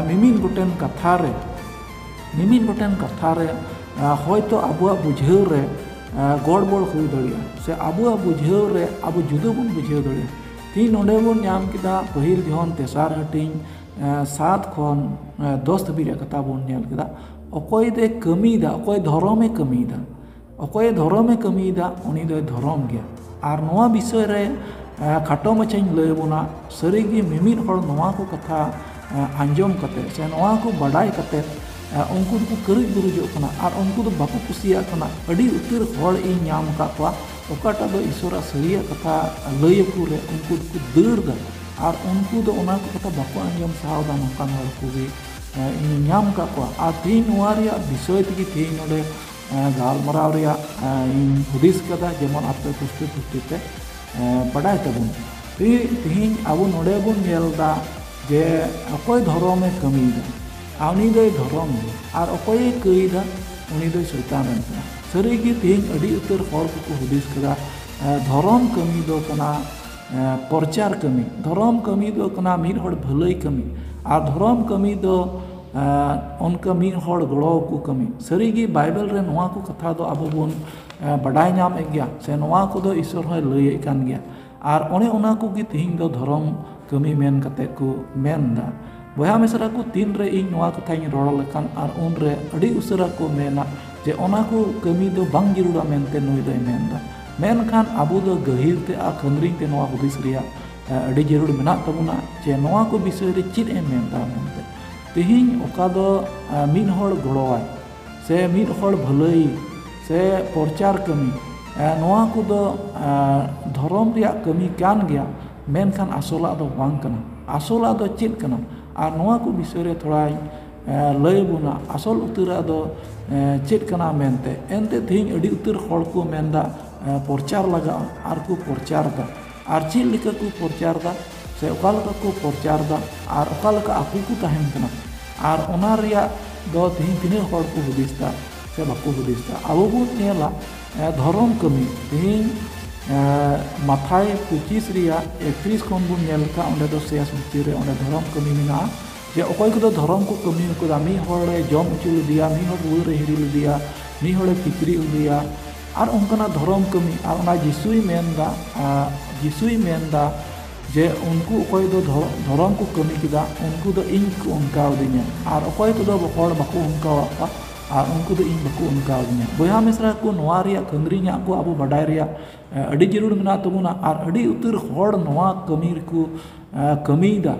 ᱢᱤᱢᱤᱫ ᱜᱚᱴᱮᱱ ᱠᱟᱛᱷᱟ ᱨᱮ ᱢᱤᱢᱤᱫ ᱜᱚᱴᱮᱱ ᱠᱟᱛᱷᱟ ᱨᱮ ᱦᱚᱭᱛᱳ ᱟᱵᱚᱣᱟᱜ ᱵᱩᱡᱷᱟᱹᱣ ᱨᱮ ᱜᱚᱲᱵᱚᱲ ᱦᱩᱭ ᱫᱟᱲᱮᱭᱟᱜᱼᱟ ᱥᱮ ᱟᱵᱚᱣᱟᱜ ᱵᱩᱡᱷᱟᱹᱣ ᱨᱮ ᱟᱵᱚ ᱡᱩᱫᱟᱹ ᱵᱚᱱ ᱵᱩᱡᱷᱟᱹᱣ ᱫᱟᱲᱮᱭᱟᱜᱼᱟ ᱛᱤᱦᱤᱧ ᱱᱚᱰᱮ ᱵᱚᱱ ᱧᱟᱢ ᱠᱮᱫᱟ ᱯᱟᱹᱦᱤᱞ ᱡᱚᱦᱚᱱ ᱛᱮᱥᱟᱨ ᱦᱟᱹᱴᱤᱧ ᱥᱟᱛ ᱠᱷᱚᱱ ᱫᱚᱥ ᱫᱷᱟᱹᱵᱤᱡ ᱨᱮᱭᱟᱜ ᱠᱟᱛᱷᱟ ᱵᱚᱱ ᱧᱮᱞ ᱠᱮᱫᱟ ᱚᱠᱚᱭ ᱫᱚᱭ ᱠᱟᱹᱢᱤᱭᱮᱫᱟ ᱚᱠᱚᱭ ᱫᱷᱚᱨᱚᱢᱮ ᱠᱟᱹᱢᱤᱭᱮᱫᱟ ᱚᱠᱚᱭ ᱫᱷᱚᱨᱚᱢᱮ ᱠᱟᱹᱢᱤᱭᱮᱫᱟ ᱩᱱᱤ ᱫᱚᱭ ᱫᱷᱚᱨᱚᱢ ᱜᱮᱭᱟ ᱟᱨ ᱱᱚᱣᱟ ᱵᱤᱥᱚᱭ ᱨᱮ ᱠᱷᱟᱴᱚ ᱢᱟᱪᱷᱟᱧ ᱞᱟᱹᱭ ᱟᱵᱚᱱᱟ ᱥᱟᱹᱨᱤᱜᱮ ᱢᱤᱢᱤᱫ ᱦᱚᱲ ᱱᱚᱣᱟ ᱠᱚ ᱠᱟᱛᱷᱟ ᱟᱸᱡᱚᱢ ᱠᱟᱛᱮ ᱥᱮ ᱱᱚᱣᱟ ᱠᱚ ᱵᱟᱰᱟᱭ ᱠᱟᱛᱮ ᱩᱱᱠᱩ ᱫᱚᱠᱚ ᱠᱟᱹᱨᱩᱡ ᱵᱩᱨᱩᱡᱚᱜ ᱠᱟᱱᱟ ᱟᱨ ᱩᱱᱠᱩ ᱫᱚ ᱵᱟᱠᱚ ᱠᱩᱥᱤᱭᱟᱜ ᱠᱟᱱᱟ ᱟᱹᱰᱤ ᱩᱛᱟᱹᱨ ᱦᱚᱲ ᱤᱧ ᱧᱟᱢ ᱟᱠᱟᱫ ᱠᱚᱣᱟ ᱚᱠᱟᱴᱟᱜ ᱫᱚ ᱤᱥᱚᱨᱟᱜ ᱥᱟᱹᱨᱤᱭᱟᱜ ᱠᱟᱛᱷᱟ ᱞᱟᱹᱭ ᱟᱠᱚ ᱨᱮ ᱩᱱᱠᱩ ᱫᱚᱠᱚ ᱫᱟᱹᱲ ᱫᱟ ᱟᱨ ᱩᱱᱠᱩ ᱫᱚ ᱚᱱᱟ ᱠᱚ ᱠᱟᱛᱷᱟ ᱵᱟᱠᱚ ᱟᱸᱡᱚᱢ ᱥᱟᱦᱟᱣ ᱫᱟ ᱱᱚᱝᱠᱟᱱ ᱦᱚᱲ ᱠᱚᱜᱮ ᱤᱧ ᱧᱟᱢ ᱟᱠᱟᱫ ᱠᱚᱣᱟ ᱟᱨ ᱛᱮᱦᱮᱧ ᱱᱚᱣᱟ ᱨᱮᱭᱟᱜ ᱵᱤᱥᱚᱭ ᱛᱮᱜᱮ ᱛᱮᱦᱮᱧ ᱱᱚᱰᱮ ᱜᱟᱞᱢᱟᱨᱟᱣ ᱨᱮᱭᱟᱜ ᱤᱧ ᱦᱩᱫᱤᱥ ᱠᱟᱫᱟ ᱡᱮᱢᱚᱱ ᱟᱯᱮ ᱯᱩᱥᱴᱟᱹ ᱯᱩᱥᱴᱤ ᱯᱮ ᱵᱟᱰᱟᱭ ᱛᱟᱵᱚᱱ ᱛᱮᱦᱮᱧ ᱟᱵᱚ ᱱᱚᱰᱮ ᱵᱚᱱ ᱧᱮᱞ ᱮᱫᱟ ᱡᱮ ᱚᱠᱚᱭ ᱫᱷᱚᱨᱚᱢᱮ ᱠᱟᱹᱢᱤᱭᱮᱫᱟ ᱟᱨ ᱩᱱᱤ ᱫᱚᱭ ᱫᱷᱚᱨᱚᱢ ᱫᱚ ᱟᱨ ᱚᱠᱚᱭᱮ ᱠᱟᱹᱭᱫᱟ ᱩᱱᱤ ᱫᱚᱭ ᱥᱚᱭᱛᱟᱱ ᱨᱮᱱ ᱠᱟᱱᱟ ᱥᱟᱹᱨᱤ ᱜᱮ ᱛᱮᱦᱮᱧ ᱟᱹᱰᱤ ᱩᱛᱟᱹᱨ ᱦᱚᱲ ᱠᱚᱠᱚ ᱦᱩᱫᱤᱥ ᱠᱮᱫᱟ ᱫᱷᱚᱨᱚᱢ ᱠᱟᱹᱢᱤ ᱫᱚ ᱠᱟᱱᱟ ᱯᱨᱚᱪᱟᱨ ᱠᱟᱹᱢᱤ ᱫᱷᱚᱨᱚᱢ ᱠᱟᱹᱢᱤ ᱫᱚ ᱠᱟᱱᱟ ᱢᱤᱫ ᱦᱚᱲ ᱵᱷᱟᱹᱞᱟᱹᱭ ᱠᱟᱹᱢᱤ ᱟᱨ ᱫᱷᱚᱨᱚᱢ ᱠᱟᱹᱢᱤ ᱫᱚ ᱚᱱᱠᱟ ᱢᱤᱫ ᱦᱚᱲ ᱜᱚᱲᱚ ᱟᱠᱚ ᱠᱟᱹᱢᱤ ᱥᱟᱹᱨᱤ ᱜᱮ ᱵᱟᱭᱵᱮᱞ ᱨᱮ ᱱᱚᱣᱟ ᱠᱚ ᱠᱟᱛᱷᱟ ᱫᱚ ᱟᱵᱚ ᱵᱚᱱ ᱵᱟᱰᱟᱭ ᱧᱟᱢᱮᱫ ᱜᱮᱭᱟ ᱥᱮ ᱱᱚᱣᱟ ᱠᱚᱫᱚ ᱤᱥᱥᱚᱨ ᱦᱚᱸᱭ ᱞᱟᱹᱭᱮᱫ ᱠᱟᱱ ᱜᱮᱭᱟ ᱟᱨ ᱚᱱᱮ ᱚᱱᱟ ᱠᱚᱜᱮ ᱛᱤᱦᱤᱧ ᱫᱚ ᱫᱷᱚᱨᱚᱢ ᱠᱟᱹᱢᱤ ᱢᱮᱱ ᱠᱟᱛᱮ ᱠᱚ ᱢᱮᱱ ᱮᱫᱟ ᱵᱚᱭᱦᱟ ᱢᱤᱥᱨᱟ ᱠᱚ ᱛᱤᱱ ᱨᱮ ᱤᱧ ᱱᱚᱣᱟ ᱠᱟᱛᱷᱟᱧ ᱨᱚᱲ ᱞᱮᱠᱷᱟᱱ ᱟᱨ ᱩᱱ ᱨᱮ ᱟᱹᱰᱤ ᱩᱥᱟᱹᱨᱟ ᱠᱚ ᱢᱮᱱᱟ ᱡᱮ ᱚᱱᱟ ᱠᱚ ᱠᱟᱹᱢᱤ ᱫᱚ ᱵᱟᱝ ᱡᱟᱹᱨᱩᱲᱟ ᱢᱮᱱᱛᱮ ᱱᱩᱭ ᱫᱚᱭ ᱢᱮᱱ ᱮᱫᱟ ᱢᱮᱱᱠᱷᱟᱱ ᱟᱵᱚ ᱫᱚ ᱜᱟᱹᱦᱤᱨ ᱛᱮ ᱟᱨ ᱠᱷᱟᱹᱢᱨᱤᱧ ᱛᱮ ᱱᱚᱣᱟ ᱦᱩᱫᱤᱥ ᱨᱮᱭᱟᱜ ᱟᱹᱰᱤ ᱡᱟᱹᱨᱩᱲ ᱢᱮᱱᱟᱜ ᱛᱟᱵᱚᱱᱟ ᱡᱮ ᱱᱚᱣᱟ ᱠᱚ ᱵᱤᱥᱚᱭ ᱨᱮ ᱪᱮᱫ ᱮ ᱢᱮᱱ ᱮᱫᱟ ᱢᱮᱱᱛᱮ ᱛᱤᱦᱤᱧ ᱚᱠᱟ ᱫᱚ ᱢᱤᱫ ᱦᱚᱲ ᱜᱚᱲᱚᱣᱟᱭ ᱥᱮ ᱢᱤᱫ ᱦᱚᱲ ᱵᱷᱟᱹᱞᱟᱹᱭ ᱥᱮ ᱯᱨᱚᱪᱟᱨ ᱠᱟᱹᱢᱤ ᱱᱚᱣᱟ ᱠᱚᱫᱚ ᱫᱷᱚᱨᱚᱢ ᱨᱮᱭᱟᱜ ᱠᱟᱹᱢᱤ ᱠᱟᱱ ᱜᱮᱭᱟ ᱢᱮᱱᱠᱷᱟᱱ ᱟᱥᱚᱞᱟᱜ ᱫᱚ ᱵᱟᱝ ᱠᱟᱱᱟ ᱟᱥᱚᱞᱟᱜ ᱫᱚ ᱪᱮᱫ ᱠᱟᱱᱟ ᱟᱨ ᱱᱚᱣᱟ ᱠᱚ ᱵᱤᱥᱚᱭ ᱨᱮ ᱛᱷᱚᱲᱟᱧ ᱞᱟᱹᱭ ᱟᱵᱚᱱᱟ ᱟᱥᱚᱞ ᱩᱛᱟᱹᱨᱟᱜ ᱫᱚ ᱪᱮᱫ ᱠᱟᱱᱟ ᱢᱮᱱᱛᱮ ᱮᱱᱛᱮ ᱛᱮᱦᱤᱧ ᱟᱹᱰᱤ ᱩᱛᱟᱹᱨ ᱦᱚᱲ ᱠᱚ ᱢᱮᱱᱫᱟ ᱯᱨᱚᱪᱟᱨ ᱞᱟᱜᱟᱜᱼᱟ ᱟᱨ ᱠᱚ ᱯᱨᱚᱪᱟᱨ ᱮᱫᱟ ᱟᱨ ᱪᱮᱫ ᱞᱮᱠᱟ ᱠᱚ ᱯᱨᱚᱪᱟᱨ ᱫᱟ ᱥᱮ ᱚᱠᱟ ᱞᱮᱠᱟ ᱠᱚ ᱯᱨᱚᱪᱟᱨ ᱫᱟ ᱟᱨ ᱚᱠᱟ ᱞᱮᱠᱟ ᱟᱠᱚ ᱠᱚ ᱛᱟᱦᱮᱱ ᱠᱟᱱᱟ ᱟᱨ ᱚᱱᱟ ᱨᱮᱭᱟᱜ ᱫᱚ ᱛᱮᱦᱮᱧ ᱛᱤᱱᱟᱹᱜ ᱦᱚᱲ ᱠᱚ ᱦᱩᱫᱤᱥ ᱫᱟ ᱥᱮ ᱵᱟᱠᱚ ᱦᱩᱫᱤᱥ ᱫᱟ ᱟᱵᱚ ᱵᱚᱱ ᱧᱮᱞᱟ ᱫᱷᱚᱨᱚᱢ ᱠᱟᱹᱢᱤ ᱛᱮᱦᱮᱧ ᱢᱟᱛᱷᱟᱭ ᱯᱚᱸᱪᱤᱥ ᱨᱮᱭᱟᱜ ᱮᱠᱛᱨᱤᱥ ᱠᱷᱚᱱ ᱵᱚᱱ ᱧᱮᱞ ᱞᱮᱠᱷᱟᱱ ᱚᱸᱰᱮ ᱫᱚ ᱥᱮᱥ ᱵᱷᱤᱛᱤᱨ ᱨᱮ ᱚᱸᱰᱮ ᱫᱷᱚᱨᱚᱢ ᱠᱟᱹᱢᱤ ᱢᱮᱱᱟᱜᱼᱟ ᱡᱮ ᱚᱠᱚᱭ ᱠᱚᱫᱚ ᱫᱷᱚᱨᱚᱢ ᱠᱚ ᱠᱟᱹᱢᱤ ᱠᱟᱫᱟ ᱢᱤᱫ ᱦᱚᱲᱮ ᱡᱚᱢ ᱦᱚᱪᱚ ᱞᱮᱫᱮᱭᱟ ᱢᱤᱫ ᱦᱚᱲ ᱨᱩᱣᱟᱹ ᱨᱮ ᱦᱤᱨᱤ ᱞᱮᱫᱮᱭᱟ ᱢᱤᱫ ᱦᱚᱲᱮ ᱠᱤᱪᱨᱤᱡ ᱞᱮᱫᱮᱭᱟ ᱟᱨ ᱚᱱᱠᱟᱱᱟᱜ ᱫᱷᱚᱨᱚᱢ ᱠᱟᱹᱢᱤ ᱟᱨ ᱚᱱᱟ ᱡᱤᱥᱩᱭ ᱢᱮᱱ ᱮᱫᱟ ᱡᱤᱥᱩᱭ ᱢᱮᱱ ᱮᱫᱟ ᱡᱮ ᱩᱱᱠᱩ ᱚᱠᱚᱭ ᱫᱚ ᱫᱷᱚᱨᱚᱢ ᱠᱚ ᱠᱟᱹᱢᱤ ᱠᱮᱫᱟ ᱩᱱᱠᱩ ᱫᱚ ᱤᱧ ᱠᱚ ᱚᱱᱠᱟ ᱟᱹᱫᱤᱧᱟ ᱟᱨ ᱚᱠᱚᱭ ᱠᱚᱫᱚ ᱦᱚᱲ ᱵᱟᱠᱚ ᱚᱱᱠᱟ ᱟᱫ ᱠᱚᱣᱟ ᱟᱨ ᱩᱱᱠᱩ ᱫᱚ ᱤᱧ ᱵᱟᱠᱚ ᱚᱱᱠᱟ ᱟᱹᱫᱤᱧᱟ ᱵᱚᱭᱦᱟ ᱢᱤᱥᱨᱟ ᱠᱚ ᱱᱚᱣᱟ ᱨᱮᱭᱟᱜ ᱠᱷᱟᱹᱨᱟᱹᱭ ᱧᱟᱢ ᱠᱚ ᱟᱵᱚ ᱵᱟᱰᱟᱭ ᱨᱮᱭᱟᱜ ᱟᱹᱰᱤ ᱡᱟᱹᱨᱩᱲ ᱢᱮᱱᱟᱜ ᱛᱟᱵᱚᱱᱟ ᱟᱨ ᱟᱹᱰᱤ ᱩᱛᱟᱹᱨ ᱦᱚᱲ ᱱᱚᱣᱟ ᱠᱟᱹᱢᱤ ᱨᱮᱠᱚ ᱠᱟᱹᱢᱤᱭᱮᱫᱟ